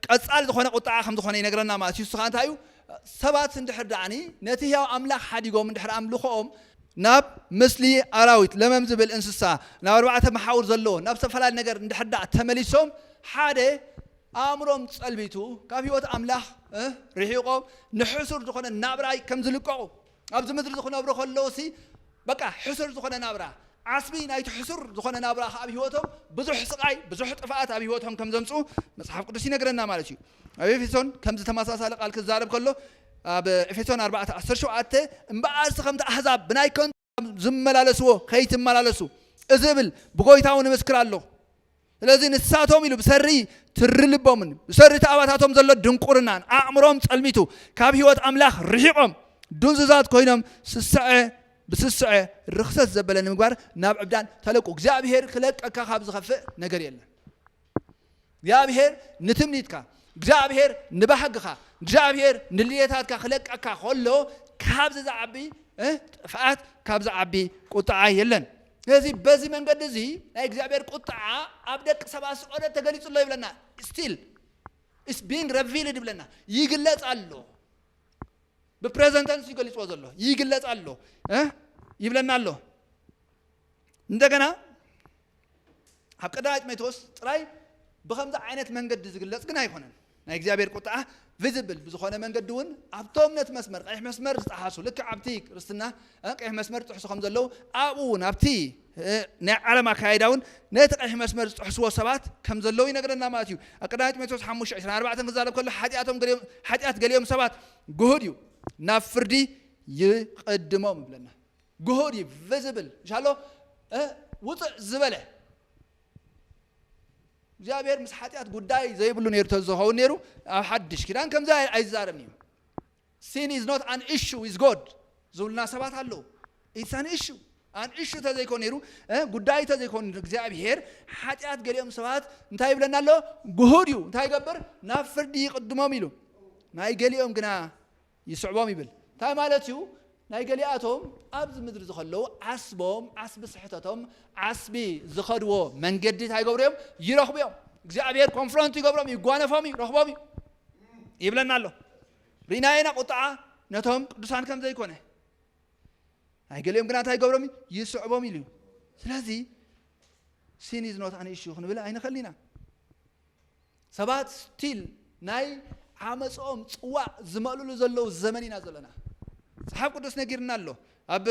ቀጻሊ ዝኾነ ቁጥዓ ከም ዝኾነ ይነግረና ማለት እዩ ንሱ ከዓ እንታይ እዩ ሰባት እንድሕር ደኣኒ ነቲ ህያው ኣምላኽ ሓዲጎም እንድሕር ኣምልኾኦም ናብ ምስሊ ኣራዊት፣ ለመም ዝብል እንስሳ፣ ናብ ኣርባዕተ መሓውር ዘለዎ፣ ናብ ዝተፈላለየ ነገር እንድሕር ደኣ ተመሊሶም፣ ሓደ ኣእምሮኦም ጸልቢቱ፣ ካብ ህይወት ኣምላኽ ርሒቖም፣ ንሕሱር ዝኾነ ናብራ ከም ዝልቀቑ፣ ኣብዚ ምድሪ ክነብሩ ከለዉሲ በቃ ሕሱር ዝኾነ ናብራ፣ ዓስቢ ናይቲ ሕሱር ዝኾነ ናብራ ከኣ ኣብ ህይወቶም ብዙሕ ስቓይ፣ ብዙሕ ጥፍኣት ኣብ ህይወቶም ከም ዘምጽኡ መጽሓፍ ቅዱስ ይነግረና ማለት እዩ። ኣብ ኤፌሶን ከምዚ ተመሳሳሊ ቃል ክዛረብ ከሎ ኣብ ኤፌሶን ኣርባዕተ ዓሰርተ ሸውዓተ እምበኣርሲ ከምቲ ኣሕዛብ ብናይ ከንቱ ዝመላለስዎ ከይትመላለሱ እዚ እብል ብጎይታ እውን እምስክር ኣለኹ ስለዚ ንሳቶም ኢሉ ብሰሪ ትሪ ልቦምን ብሰሪ ተኣባታቶም ዘሎ ድንቁርናን ኣእምሮም ጸልሚቱ ካብ ህይወት ኣምላኽ ርሒቖም ዱንዝዛት ኮይኖም ስስዐ ብስስዐ ርክሰት ዘበለ ንምግባር ናብ ዕብዳን ተለቁ እግዚኣብሄር ክለቀካ ካብ ዝኸፍእ ነገር የለን እግዚኣብሄር ንትምኒትካ፣ እግዚኣብሄር ንባህግኻ፣ እግዚኣብሄር ንድልየታትካ ክለቀካ ከሎ ካብዚ ዝዓቢ ጥፍኣት ካብ ዝዓቢ ቁጥዓ የለን። ስለዚ በዚ መንገዲ እዚ ናይ እግዚኣብሄር ቁጥዓ ኣብ ደቂ ሰባት ስቆለ ተገሊጹ ኣሎ ይብለና። ስቲል ኢስ ቢንግ ረቪልድ ይብለና ይግለጽ ኣሎ ብፕሬዘንተንስ ይገሊጽዎ ዘሎ ይግለጽ ኣሎ ይብለና ኣሎ እንደገና ኣብ ቀዳማይ ጢሞቴዎስ ጥራይ ብከምዚ ዓይነት መንገዲ ዝግለጽ ግን ኣይኮነን ናይ እግዚኣብሔር ቁጥዓ ቪዚብል ብዝኾነ መንገዲ እውን ኣብቶም ነቲ መስመር ቀይሕ መስመር ዝጠሓሱ ልክዕ ኣብቲ ክርስትና ቀይሕ መስመር ዝጥሕሱ ከም ዘለዉ ኣብኡ እውን ኣብቲ ናይ ዓለም ኣካይዳ እውን ነቲ ቀይሕ መስመር ዝጥሕስዎ ሰባት ከም ዘለዉ ይነግረና ማለት እዩ ኣብ ቀዳማይ ጢሞቴዎስ 5 24 ክዛረብ ከሎ ሓጢኣቶም ሓጢኣት ገሊኦም ሰባት ግሁድ እዩ ናብ ፍርዲ ይቕድሞም ይብለና ግሁድ እዩ ቨዝብል እንሻሎ ውፅዕ ዝበለ እግዚኣብሔር ምስ ሓጢኣት ጉዳይ ዘይብሉ ነይሩ ተዝኸውን ነይሩ ኣብ ሓድሽ ኪዳን ከምዚ ኣይዛረብን እዩ ሲን ኢዝ ኖት ኣን ኢሹ ዊዝ ጎድ ዝብሉና ሰባት ኣለዉ ኢትስ ኣን ኢሹ ኣን ኢሹ ተዘይኮ ነይሩ ጉዳይ ተዘይኮን እግዚኣብሄር ሓጢኣት ገሊኦም ሰባት እንታይ ይብለና ኣሎ ግሁድ እዩ እንታይ ይገብር ናብ ፍርዲ ይቅድሞም ኢሉ ናይ ገሊኦም ግና ይስዕቦም ይብል ታይ ማለት እዩ ናይ ገሊኣቶም ኣብዚ ምድሪ ዝከለዉ ዓስቦም ዓስቢ ስሕተቶም ዓስቢ ዝከድዎ መንገዲ ታይ ይገብሩ እዮም ይረክቡ እዮም እግዚኣብሔር ኮንፍሮንት ይገብሮም ይጓነፎም እዩ ረክቦም እዩ ይብለና ኣሎ ሪእና ኢና ቁጥዓ ነቶም ቅዱሳን ከም ዘይኮነ ናይ ገሊኦም ግና እንታይ ይገብሮም ይስዕቦም ኢሉ እዩ ስለዚ ሲን ኢዝ ኖት ኣን ኢሹ ክንብል ኣይንኽእል ኢና ሰባት ስቲል ናይ ዓመጽኦም ጽዋእ ዝመልእሉ ዘለዉ ዘመን ኢና ዘሎና። መጽሓፍ ቅዱስ ነጊርና ኣሎ ኣብ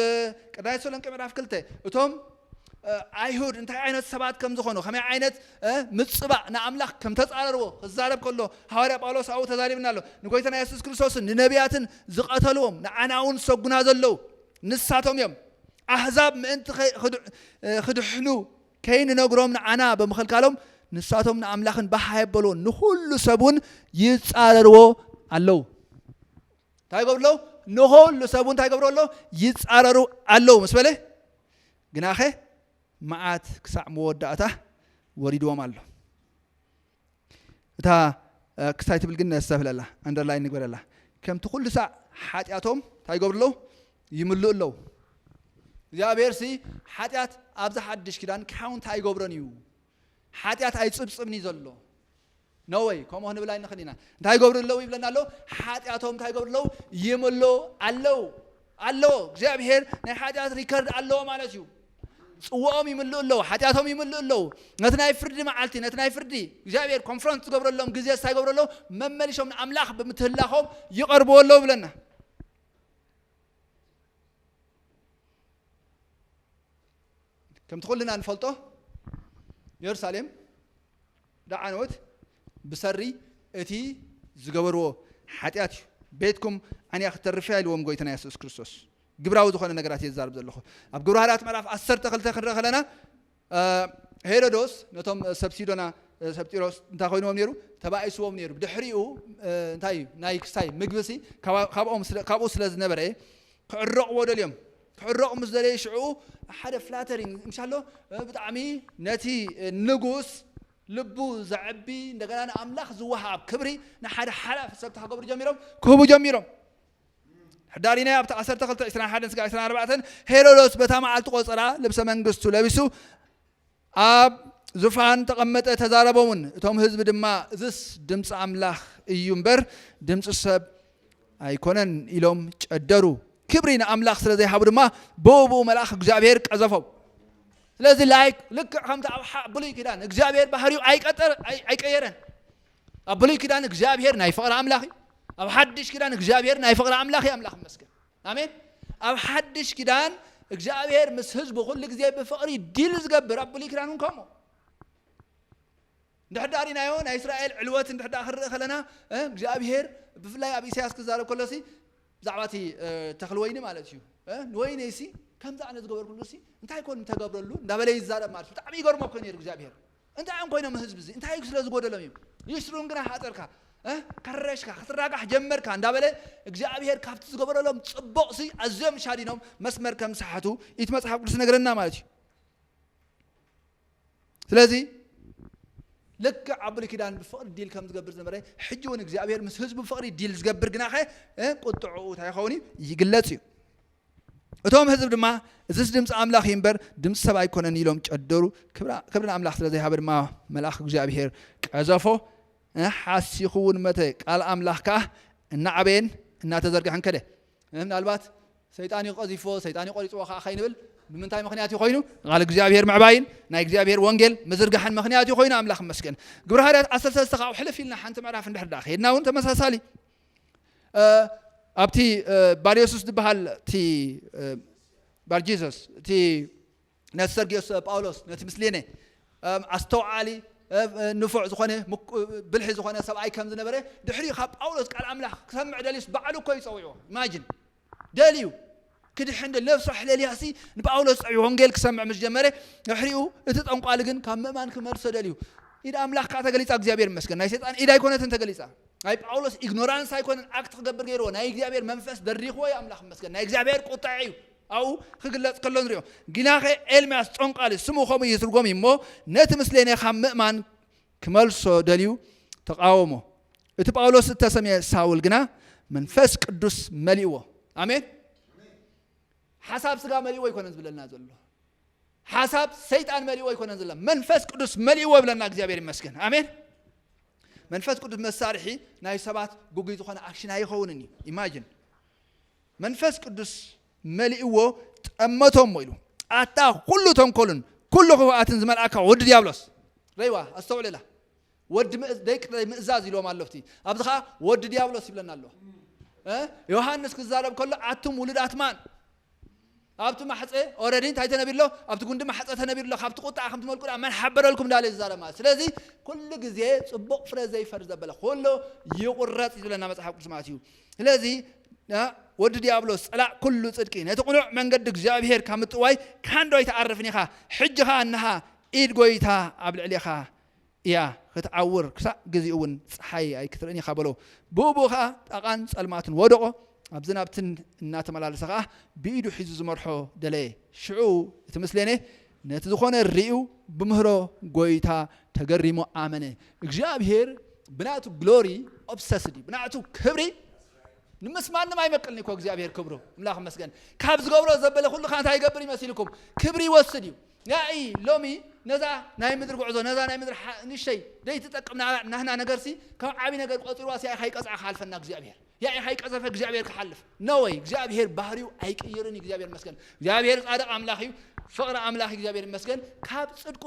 ቀዳማይ ተሰሎንቄ ምዕራፍ ክልተ እቶም ኣይሁድ እንታይ ዓይነት ሰባት ከም ዝኾኑ ከመይ ዓይነት ምጽባእ ንኣምላኽ ከም ተጻረርዎ ክዛረብ ከሎ ሃዋርያ ጳውሎስ ኣብኡ ተዛሪብና ኣሎ ንጎይታና የሱስ ክርስቶስን ንነቢያትን ዝቐተልዎም ንዓና እውን ዝሰጉና ዘለዉ ንሳቶም እዮም ኣህዛብ ምእንቲ ክድሕኑ ከይንነግሮም ንዓና ብምኽልካሎም ንሳቶም ንኣምላኽን ባህ ኣየበልዎን፣ ንዅሉ ሰብ እውን ይጻረርዎ ኣለዉ። እንታይ ይገብሩ ኣለዉ? ንዅሉ ሰብ እውን እንታይ ይገብርዎ ኣለዉ? ይጻረሩ ኣለዉ ምስ በለ ግናኸ መዓት ክሳዕ መወዳእታ ወሪድዎም ኣሎ። እታ ክሳይ ትብል ግን ነስተብህለላ ኣንደርላይን ንግበረላ ከምቲ ኩሉ ሳዕ ሓጢኣቶም እንታይ ይገብሩ ኣለዉ ይምልኡ ኣለዉ እግዚኣብሔር ሲ ሓጢኣት ኣብዚ ሓድሽ ኪዳን ክሓው እንታይ ይገብሮን እዩ ሓጢኣት ኣይፅብፅብን እዩ ዘሎ ነወይ ከምኡ ክንብል ኣይንኽእል ኢና እንታይ ይገብሩ ኣለዉ ይብለና ኣሎ ሓጢኣቶም እንታይ ይገብሩ ኣለዉ ይምልኡ ኣለዉ ኣሎ እግዚኣብሄር ናይ ሓጢኣት ሪከርድ ኣለዎ ማለት እዩ ፅወኦም ይምልኡ ኣለዉ ሓጢኣቶም ይምልኡ ኣለዉ ነቲ ናይ ፍርዲ መዓልቲ ነቲ ናይ ፍርዲ እግዚኣብሄር ኮንፈረንስ ዝገብረሎም ግዜ ስታይ ይገብሩ ኣለዉ መመሊሶም ንኣምላኽ ብምትህላኾም ይቐርብዎ ኣለዉ ይብለና ከምቲ ኩልና ንፈልጦ የሩሳሌም ላዕንወት ብሰሪ እቲ ዝገበርዎ ሓጢኣት እዩ ቤትኩም ዓንያ ክተርፍ እያ ኢልዎም ጎይትና የሱስ ክርስቶስ ግብራዊ ዝኾነ ነገራት እየ ዝዛርብ ዘለኹ ኣብ ግብረ ሃርያት ምዕራፍ 12 ክንርኢ ከለና ሄሮዶስ ነቶም ሰብ ሲዶና ሰብ ጢሮስ እንታይ ኮይንዎም ነይሩ ተባኢስዎም ነይሩ ድሕሪኡ እንታይ እዩ ናይ ክስታይ ምግብሲ ካብኡ ስለ ዝነበረ ክዕረቕዎ ደልዮም ክዕረቑ ምስ ደለየ ሽዕኡ ሓደ ፍላተሪንግ እንሻሎ ብጣዕሚ ነቲ ንጉስ ልቡ ዘዕቢ እንደገና ንኣምላኽ ዝወሃብ ክብሪ ንሓደ ሓላፊ ሰብ ተኸገብሩ ጀሚሮም ክህቡ ጀሚሮም ሕዳሪናይ ኣብቲ 12 21 ስጋ 24 ሄሮዶስ በታ መዓልቲ ቆፀራ ልብሰ መንግስቱ ለቢሱ ኣብ ዙፋን ተቐመጠ ተዛረቦምን እቶም ህዝቢ ድማ እዝስ ድምፂ ኣምላኽ እዩ እምበር ድምፂ ሰብ ኣይኮነን ኢሎም ጨደሩ ክብሪ ንኣምላኽ ስለ ዘይሃቡ ድማ ብኡብኡ መልኣኽ እግዚኣብሔር ቀዘፎም ስለዚ ላይክ ልክዕ ከምቲ ኣብ ብሉይ ኪዳን እግዚኣብሔር ባህሪኡ ኣይቀጠር ኣይቀየረን ኣብ ብሉይ ኪዳን እግዚኣብሔር ናይ ፍቕሪ ኣምላኽ እዩ ኣብ ሓድሽ ኪዳን እግዚኣብሔር ናይ ፍቕሪ ኣምላኽ እዩ ኣምላኽ ይመስገን ኣሜን ኣብ ሓድሽ ኪዳን እግዚኣብሔር ምስ ህዝቡ ኩሉ ግዜ ብፍቕሪ ዲል ዝገብር ኣብ ብሉይ ኪዳን እውን ከምኡ ድሕር ዳኣ ሪናዮ ናይ እስራኤል ዕልወት እንድሕር ዳኣ ክንርኢ ከለና እግዚኣብሔር ብፍላይ ኣብ ኢሳያስ ክዛረብ ከሎ ሲ ብዛዕባ እቲ ተኽሊ ወይኒ ማለት እዩ ንወይነይ ሲ ከምዚ ኣነ ዝገበርኩሉ ሲ እንታይ ኮን ተገብረሉ እንዳበለ ይዛረብ ማለት ብጣዕሚ ይገርሞ እኮ ነይሩ እግዚኣብሔር እንታይ እዮም ኮይኖም ህዝቢ እዚ እንታይ እዩ ስለዝጎደሎም እዮም ይስሩን ግና ሃጠርካ ከረሽካ ክትራጋሕ ጀመርካ እንዳበለ እግዚኣብሄር ካብቲ ዝገበረሎም ጽቡቕሲ ኣዝዮም ሻዲኖም መስመር ከም ዝሰሓቱ እቲ መጽሓፍ ቅዱስ ነገረና ማለት እዩ ስለዚ ልክዕ ኣብ ብሉይ ኪዳን ብፍቕሪ ዲል ከም ዝገብር ዝነበረ ሕጂ እውን እግዚኣብሄር ምስ ህዝቡ ብፍቕሪ ዲል ዝገብር ግናኸ ቁጥዕኡ እንታይ ይኸውን እዩ ይግለጽ እዩ እቶም ህዝቢ ድማ እዚስ ድምፂ ኣምላኽ እዩ እምበር ድምፂ ሰብ ኣይኮነን ኢሎም ጨደሩ ክብሪ ንኣምላኽ ስለ ዘይሃበ ድማ መልኣኽ እግዚኣብሄር ቀዘፎ ሓሲኹ እውን መተ ቃል ኣምላኽ ከዓ እናዓበየን እናተዘርግሐን ከደ ምናልባት ሰይጣን እዩ ቀዚፎ ሰይጣን እዩ ቆሪፅዎ ከዓ ከይንብል ብምንታይ ምክንያት እዩ ኮይኑ ቃል እግዚኣብሄር ምዕባይን ናይ እግዚኣብሄር ወንጌል ምዝርጋሕን ምክንያት እዩ ኮይኑ ኣምላኽ መስገን ግብረ ሃርያት ዓሰርተ ሰለስተ ካብኡ ሕልፍ ኢልና ሓንቲ ምዕራፍ እንድሕር ዳ ከይድና እውን ተመሳሳሊ ኣብቲ ባል የሱስ ዝበሃል እቲ ባል ጂሰስ እቲ ነቲ ሰርጊዮስ ጳውሎስ ነቲ ምስሌነ ኣስተውዓሊ ንፉዕ ዝኾነ ብልሒ ዝኾነ ሰብኣይ ከም ዝነበረ ድሕሪ ካብ ጳውሎስ ቃል ኣምላኽ ክሰምዕ ደልዩስ ባዕሉ እኮ ይፀዊዕዎ ኢማጅን ደልዩ ክድሕን ደልዩ ነፍሱ ኣሕለልያሲ ንጳውሎስ ጽዑ ወንጌል ክሰምዕ ምስ ጀመረ ድሕሪኡ እቲ ጠንቋሊ ግን ካብ ምእማን ክመልሶ ደልዩ ኢድ ኣምላኽ ከዓ ተገሊጻ እግዚኣብሔር ይመስገን ናይ ሰይጣን ኢድ ኣይኮነትን ተገሊጻ ናይ ጳውሎስ ኢግኖራንስ ኣይኮነን ኣክት ክገብር ገይርዎ ናይ እግዚኣብሔር መንፈስ ደሪኽዎ እዩ ኣምላኽ ይመስገን ናይ እግዚኣብሔር ቁጥዐ እዩ ኣብኡ ክግለጽ ከሎ ንሪኦ ግናኸ ኤልምያስ ጦንቃሊ ስሙ ከምኡ ይትርጎም እዩ እሞ ነቲ ምስሌነ ካብ ምእማን ክመልሶ ደልዩ ተቓወሞ። እቲ ጳውሎስ እተሰምየ ሳውል ግና መንፈስ ቅዱስ መሊእዎ። ኣሜን። ሓሳብ ስጋ መሊእዎ ኣይኮነን ዝብለና ዘሎ፣ ሓሳብ ሰይጣን መሊእዎ ኣይኮነን ዝብለና፣ መንፈስ ቅዱስ መሊእዎ ይብለና። እግዚኣብሔር ይመስገን። ኣሜን። መንፈስ ቅዱስ መሳርሒ ናይ ሰባት ግጉይ ዝኾነ ኣክሽን ኣይኸውንን እዩ። ኢማጂን መንፈስ ቅዱስ መሊእዎ ጠመቶሞ ኢሉ ኣታ ኩሉ ተንኮልን ኩሉ ክፉኣትን ዝመልኣካ ወዲ ዲያብሎስ ረይዋ ኣስተውዕልላ ወዲ ደቂ ዘይምእዛዝ ኢልዎም ኣሎ ኣብቲ ኣብዚ ከዓ ወዲ ዲያብሎስ ይብለና ኣለዋ ዮሃንስ ክዛረብ ከሎ ኣቱም ውሉዳት ማን ኣብቲ ማሕጸ ኦረዲ እንታይ ተነቢሩ ኣሎ ኣብቲ ጉንዲ ማሕጸ ተነቢሩ ኣሎ ካብቲ ቁጥዓ ከምቲ መልቁ ድኣ መን ሓበረልኩም እንዳለ ዝዛረብ ማለት ስለዚ ኩሉ ግዜ ጽቡቕ ፍረ ዘይፈሪ ዘበለ ኩሉ ይቑረጽ ይብለና መጽሓፍ ቅዱስ ማለት እዩ ስለዚ ወዲ ዲያብሎስ ጸላእ ኩሉ ጽድቂ ነቲ ቅኑዕ መንገዲ እግዚኣብሄር ካብ ምጥዋይ ካንዶ ኣይትዓርፍን ኢኻ ሕጂ ኸኣ እንሃ ኢድ ጐይታ ኣብ ልዕሌኻ እያ ኽትዓውር፣ ክሳዕ ግዚኡ እውን ፀሓይ ኣይክትርእን ኢኻ በሎ። ብኡብኡ ኸዓ ጣቓን ፀልማትን ወደቖ፣ ኣብዝን ኣብትን እናተመላለሰ ኸዓ ብኢዱ ሒዙ ዝመርሖ ደለየ። ሽዑ እቲ ምስሌኔ ነቲ ዝኾነ ርእዩ ብምህሮ ጐይታ ተገሪሙ ኣመነ። እግዚኣብሄር ብናቱ ግሎሪ ኦብሰስድ እዩ ብናቱ ክብሪ ንምስ ማንም ኣይመቅልን እኮ እግዚኣብሄር ክብሩ እምላኽ መስገን ካብ ዝገብሮ ዘበለ ኩሉ ከ እንታይ ይገብር እዩ መሲልኩም ክብሪ ይወስድ እዩ ያኢ ሎሚ ነዛ ናይ ምድሪ ጉዕዞ ነዛ ናይ ምድሪ ንእሽተይ ደይትጠቅም ናህና ነገርሲ ከም ዓቢ ነገር ቆጺርዋስ ያኢኻ ይቀጽዓ ክሓልፈና እግዚኣብሄር ያኢኻ ይቀዘፈ እግዚኣብሄር ክሓልፍ ነወይ እግዚኣብሄር ባህሪው ኣይቅይርን እግዚኣብሄር መስገን እግዚኣብሄር ጻድቕ ኣምላኽ እዩ ፍቕሪ ኣምላኽ እግዚኣብሄር መስገን ካብ ጽድቁ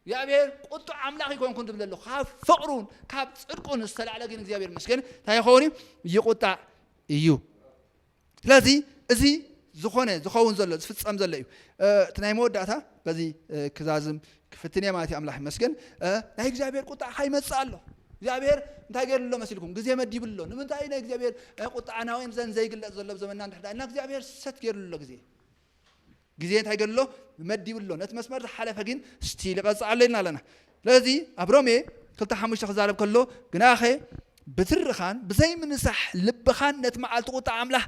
እግዚኣብሄር ቁጡዕ ኣምላኽ ይኮንኩን ዝብል ዘሎ ካብ ፍቕሩን ካብ ጽድቁን ዝተላዕለ ግን እግዚኣብሄር መስገን እንታይ ይኸውን እዩ ይቁጣዕ እዩ ስለዚ እዚ ዝኾነ ዝኸውን ዘሎ ዝፍጸም ዘሎ እዩ እቲ ናይ መወዳእታ በዚ ክዛዝም ክፍትን እየ ማለት እዩ ኣምላኽ ይመስገን ናይ እግዚኣብሔር ቁጣዕ ካይመጽእ ኣሎ እግዚኣብሔር እንታይ ገይሩ ኣሎ መሲልኩም ግዜ መዲቡ ኣሎ ንምንታይ እዩ ናይ እግዚኣብሔር ቁጣዕ ናውያን ዘን ዘይግለጽ ዘሎ ዘመና እንድሕዳ እና እግዚኣብሔር ሰት ገይሩ ኣሎ ግዜ ግዜ እንታይ ገሉ ኣሎ መዲቡ ኣሎ ነቲ መስመር ዝሓለፈ ግን ስቲል ይቐጽዕ ኣሎ ኢልና ኣለና ስለዚ ኣብ ሮሜ ክልተ ሓሙሽተ ክዛረብ ከሎ ግናኸ ብትርኻን ብዘይምንሳሕ ልብኻን ነቲ መዓልቲ ቁጣ ኣምላኽ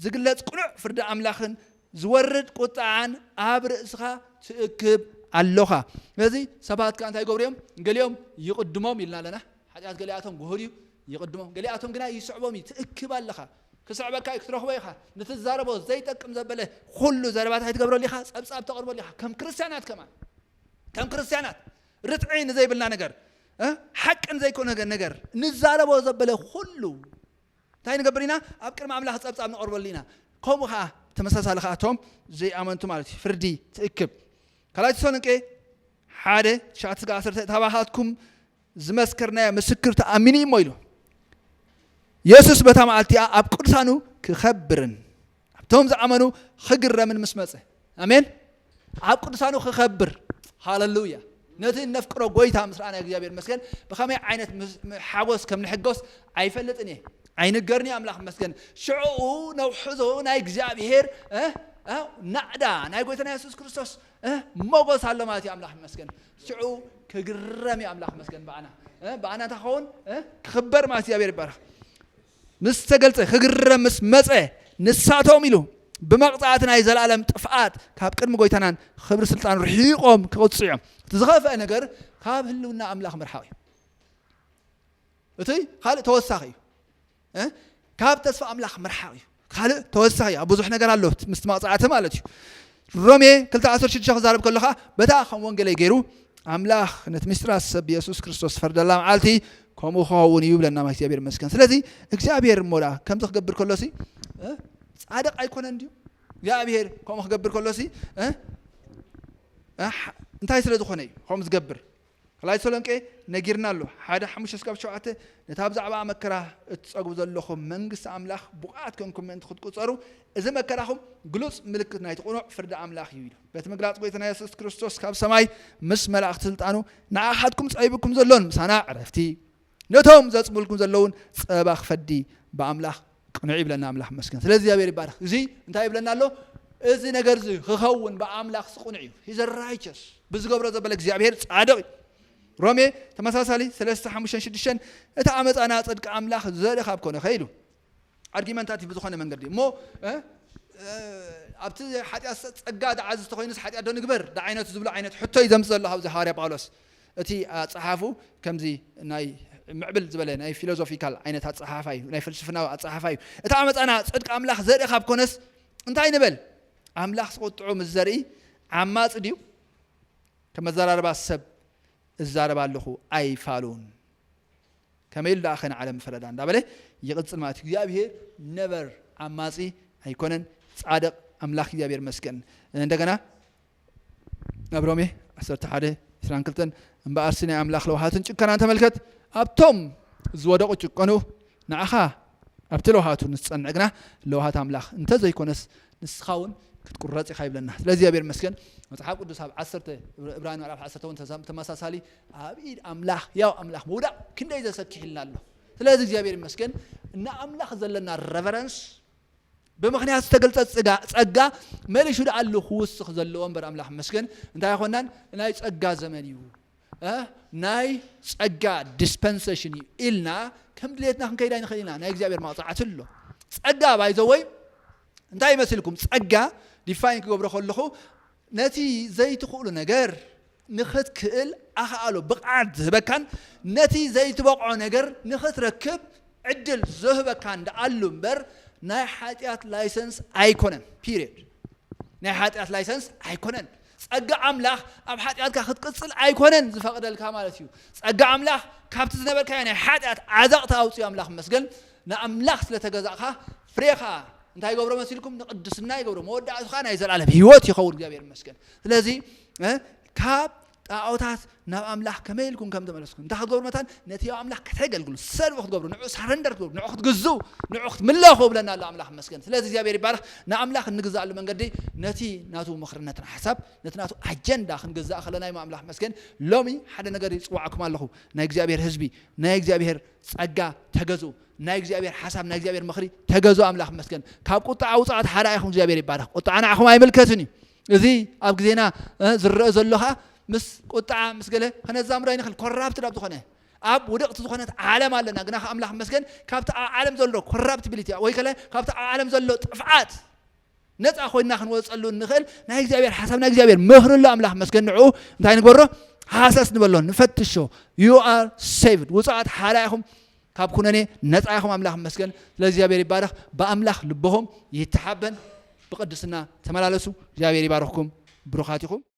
ዝግለጽ ቅኑዕ ፍርዲ ኣምላኽን ዝወርድ ቁጣዓን ኣብ ርእስኻ ትእክብ ኣሎኻ ስለዚ ሰባት ከዓ እንታይ ይገብሩ እዮም ገሊኦም ይቕድሞም ኢልና ኣለና ሓጢኣት ገሊኣቶም ግሁድ እዩ፣ ይቕድሞም፣ ገሊኣቶም ግና ይስዕቦም እዩ፣ ትእክብ ኣለኻ፣ ክስዕበካ እዩ፣ ክትረኽቦ ኢኻ፣ ንትዛረቦ ዘይጠቅም ዘበለ ኹሉ ዘረባታት ኣይትገብረሉ ኢኻ፣ ጸብጻብ ተቕርበሉ ኢኻ፣ ከም ክርስትያናት ከማን ከም ክርስትያናት ርትዒ ንዘይብልና ነገር ሓቂ ንዘይኮነ ነገር ንዛረቦ ዘበለ ኹሉ እንታይ ንገብር ኢና ኣብ ቅድሚ ኣምላኽ ጸብጻብ ንቐርበሉ ኢና ከምኡ ከዓ ተመሳሳሊ ከዓ እቶም ዘይኣመንቱ ማለት እዩ ፍርዲ ትእክብ ካልኣይ ተሰሎንቄ ሓደ ትሽዓተ ስጋ ዓሰርተ ታባኻትኩም ዝመስከርናዮ ምስክር ተኣሚኑ እዩ እሞ ኢሉ የሱስ በታ መዓልቲኣ ኣብ ቅዱሳኑ ክኸብርን ኣብቶም ዝኣመኑ ክግረምን ምስ መፀ ኣሜን ኣብ ቅዱሳኑ ክኸብር ሃለሉያ ነቲ እነፍቅሮ ጎይታ ምስ ረኣና እግዚኣብሔር መስገን ብኸመይ ዓይነት ሓጎስ ከም ንሕጎስ ኣይፈልጥን እየ ኣይንገርኒ ኣምላኽ መስገን ሽዕኡ ነውሕዞ ናይ እግዚኣብሔር ናዕዳ ናይ ጎይታና የሱስ ክርስቶስ እህ ሞጎስ ኣሎ ማለት እዩ ኣምላኽ ይመስገን ሽዑ ክግረም እዩ ኣምላኽ ይመስገን ብኣና እህ ብኣና እንታይ ክኸውን እህ ክኽበር ማለት እግዚኣብሔር ይባረኽ ምስ ተገልጸ ክግረም ምስ መጸ ንሳቶም ኢሉ ብመቕጻዕቲ ናይ ዘለኣለም ጥፍኣት ካብ ቅድሚ ጎይታናን ክብሪ ስልጣን ርሒቖም ክቕጽዑ እዮም እቲ ዝኸፍአ ነገር ካብ ህልውና ኣምላኽ ምርሓቕ እዩ እቲ ካልእ ተወሳኺ እዩ ካብ ተስፋ ኣምላኽ ምርሓቕ እዩ ካልእ ተወሳኺ ኣብ ብዙሕ ነገር ኣሎ ምስቲ መቕፃዕቲ ማለት እዩ ሮሜ 216 ክዛረብ ከሎ ከዓ በታ ከም ወንጌለይ ገይሩ ኣምላኽ ነቲ ምስጢራት ሰብ የሱስ ክርስቶስ ዝፈርደላ መዓልቲ ከምኡ ክኸውን እዩ ብለና እግዚኣብሔር ይመስገን ስለዚ እግዚኣብሔር እሞ ደኣ ከምዚ ክገብር ከሎ ሲ እ? ጻድቅ ኣይኮነን ድዩ እግዚኣብሔር ከምኡ ክገብር ከሎ ሲ እ? እ? ሕ- እንታይ ስለ ዝኾነ እዩ ከምኡ ዝገብር ካልኣይ ተሰሎንቄ ነጊርና ኣሎ ሓደ ሓሙሽተ ስጋብ ሸውዓተ ነታ ብዛዕባኣ መከራ እትጸግቡ ዘሎኹም መንግስቲ ኣምላኽ ብቑዓት ኮንኩም ምእንቲ ክትቁጸሩ እዚ መከራኹም ግሉጽ ምልክት ናይቲ ቅኑዕ ፍርዲ ኣምላኽ እዩ ኢሉ በቲ ምግላጽ ጎይታና የሱስ ክርስቶስ ካብ ሰማይ ምስ መላእኽቲ ስልጣኑ ንዓኻትኩም ጸቢብኩም ዘሎን ምሳና ዕረፍቲ ነቶም ዘጽምልኩም ዘለውን ጸባ ክፈዲ ብኣምላኽ ቅኑዕ ይብለና ኣምላኽ መስገን ስለ እግዚኣብሔር ይባርክ እዚ እንታይ ይብለና ኣሎ እዚ ነገር እዚ ክኸውን ብኣምላኽ ስቁኑዕ እዩ ሂዘ ራይቸስ ብዝገብሮ ዘበለ እግዚኣብሔር ጻድቕ እዩ ሮሜ ተመሳሳሊ 3 5 6 እቲ ኣመፃና ጽድቂ ኣምላኽ ዘርኢ ካብ ኮነ ከኢሉ ኣርጊመንታቲቭ ብዝኾነ መንገዲ እሞ ኣብቲ ሓጢኣት ጸጋ ደዓ ዝተኮይኑስ ሓጢኣት ዶ ንግበር ደዓይነቱ ዝብሉ ዓይነት ሕቶይ ዘምፅ ዘሎ ካብዚ ሃዋርያ ጳውሎስ እቲ ኣፀሓፉ ከምዚ ናይ ምዕብል ዝበለ ናይ ፊሎዞፊካል ዓይነት ኣፀሓፋ እዩ ናይ ፍልስፍናዊ ኣፀሓፋ እዩ እቲ ዓመፃና ፅድቂ ኣምላኽ ዘርኢ ካብ ኮነስ እንታይ ንበል ኣምላኽ ዝቆጥዑ ምስ ዘርኢ ዓማፅ ድዩ ከመዘራርባ ሰብ እዛረባ ኣለኹ ኣይፋሉን ከመይ ኢሉ ደኣ ከ ንዓለም ምፈረዳ እንዳበለ ይቕጽል ማለት እዩ። እግዚኣብሄር ነበር ዓማጺ ኣይኮነን ጻድቕ ኣምላኽ እግዚኣብሄር ይመስገን። እንደገና ኣብ ሮሜ ዓሰርተ ሓደ ዕስራን ክልተን እምበኣርሲ ናይ ኣምላኽ ለውሃትን ጭከናን ተመልከት ኣብቶም ዝወደቑ ጭቀኑ ንዓኻ ኣብቲ ለውሃቱ ንዝጸንዕ ግና ለውሃት ኣምላኽ እንተዘይኮነስ ንስኻ እውን ክትቁረጽ ኢኻ ይብለና ስለዚ እግዚኣብሔር መስገን መፅሓፍ ቅዱስ ኣብ ዓሰርተ እብራን ምዕራፍ ዓሰርተ እውን ተመሳሳሊ ኣብ ኢድ ኣምላኽ ህያው ኣምላኽ ምውዳቕ ክንደይ ዘሰኪሕልና ኣሎ ስለዚ እግዚኣብሔር ይመስገን ንኣምላኽ ዘለና ረቨረንስ ብምክንያት ዝተገልጸ ጸጋ መሊሹ ደኣሉ ክውስኽ ዘለዎ እምበር ኣምላኽ መስገን እንታይ ይኮናን ናይ ጸጋ ዘመን እዩ ናይ ጸጋ ዲስፐንሴሽን እዩ ኢልና ከም ድሌትና ክንከይድ ኣይንኽእል ኢና ናይ እግዚኣብሔር መቕፃዕቲ ኣሎ ጸጋ ባይዘወይ እንታይ ይመስልኩም ጸጋ ዲፋይን ክገብሮ ከለኹ ነቲ ዘይትኽእሉ ነገር ንኽትክእል ኣኽኣሎ ብቕዓት ዝህበካን ነቲ ዘይትበቕዖ ነገር ንኽትረክብ ዕድል ዝህበካን ደኣሉ እምበር ናይ ሓጢኣት ላይሰንስ ኣይኮነን። ፒርየድ። ናይ ሓጢኣት ላይሰንስ ኣይኮነን። ጸጋ ኣምላኽ ኣብ ሓጢኣትካ ክትቅጽል ኣይኮነን ዝፈቕደልካ ማለት እዩ። ጸጋ ኣምላኽ ካብቲ ዝነበርካዮ ናይ ሓጢኣት ዓዘቕቲ ኣውጽኡ ኣምላኽ መስገን ንኣምላኽ ስለ ተገዛእካ ፍሬኻ እንታይ ይገብሮ መሲልኩም ንቅድስና ይገብሮ መወዳእቱ ከዓ ናይ ዘላለም ህይወት ይኸውን እግዚኣብሔር ይመስገን ስለዚ ካብ ጣዖታት ናብ ኣምላኽ ከመይ ኢልኩም ከም ተመለስኩም እንታይ ክትገብሩ መታን ነቲ ያው ኣምላኽ ከተገልግሉ ሰልፊ ክትገብሩ ንዑ ሳረንደር ክትገብሩ ንዑ ክትግዙ ንዑ ክትምለኹ ብለና ኣሎ ኣምላኽ መስገን ስለዚ እግዚኣብሔር ይባረኽ ንኣምላኽ እንግዛእሉ መንገዲ ነቲ ናቱ ምኽርነትን ሓሳብ ነቲ ናቱ ኣጀንዳ ክንግዛእ ከለና እዩ ኣምላኽ መስገን ሎሚ ሓደ ነገር ይፅዋዕኩም ኣለኹ ናይ እግዚኣብሔር ህዝቢ ናይ እግዚኣብሔር ፀጋ ተገዙ ናይ እግዚኣብሔር ሓሳብ ናይ እግዚኣብሔር ምክሪ ተገዙ ኣምላኽ መስገን ካብ ቁጣ ኣውፃኣት ሓዳ ኢኹም እግዚኣብሔር ይባረኽ ቁጣዓ ንዓኹም ኣይምልከትን እዩ እዚ ኣብ ግዜና ዝረአ ዘሎ ከዓ ምስ ቁጣዓ ምስ ገለ ከነዛምዶ ኣይንኽእል ኮራብት ናብ ዝኾነ ኣብ ውድቕቲ ዝኾነት ዓለም ኣለና ግና ኣምላኽ መስገን ካብቲ ኣብ ዓለም ዘሎ ኮራፕቲቢሊቲ ወይ ከለ ካብቲ ኣብ ዓለም ዘሎ ጥፍዓት ነፃ ኮይና ክንወፀሉ እንኽእል ናይ እግዚኣብሔር ሓሳብ ናይ እግዚኣብሔር ምኽሪ ኣሎ ኣምላኽ መስገን ንዕኡ እንታይ ንግበሮ ሃሰስ ንበሎ ንፈትሾ ዩ ኣር ሴቭድ ውፅኣት ሓራ ኢኹም ካብ ኩነኔ ነፃ ኢኹም ኣምላኽ መስገን ስለ እግዚኣብሔር ይባረኽ ብኣምላኽ ልቦኹም ይተሓበን ብቅድስና ተመላለሱ እግዚኣብሔር ይባረኽኩም ብሩኻት ኢኹም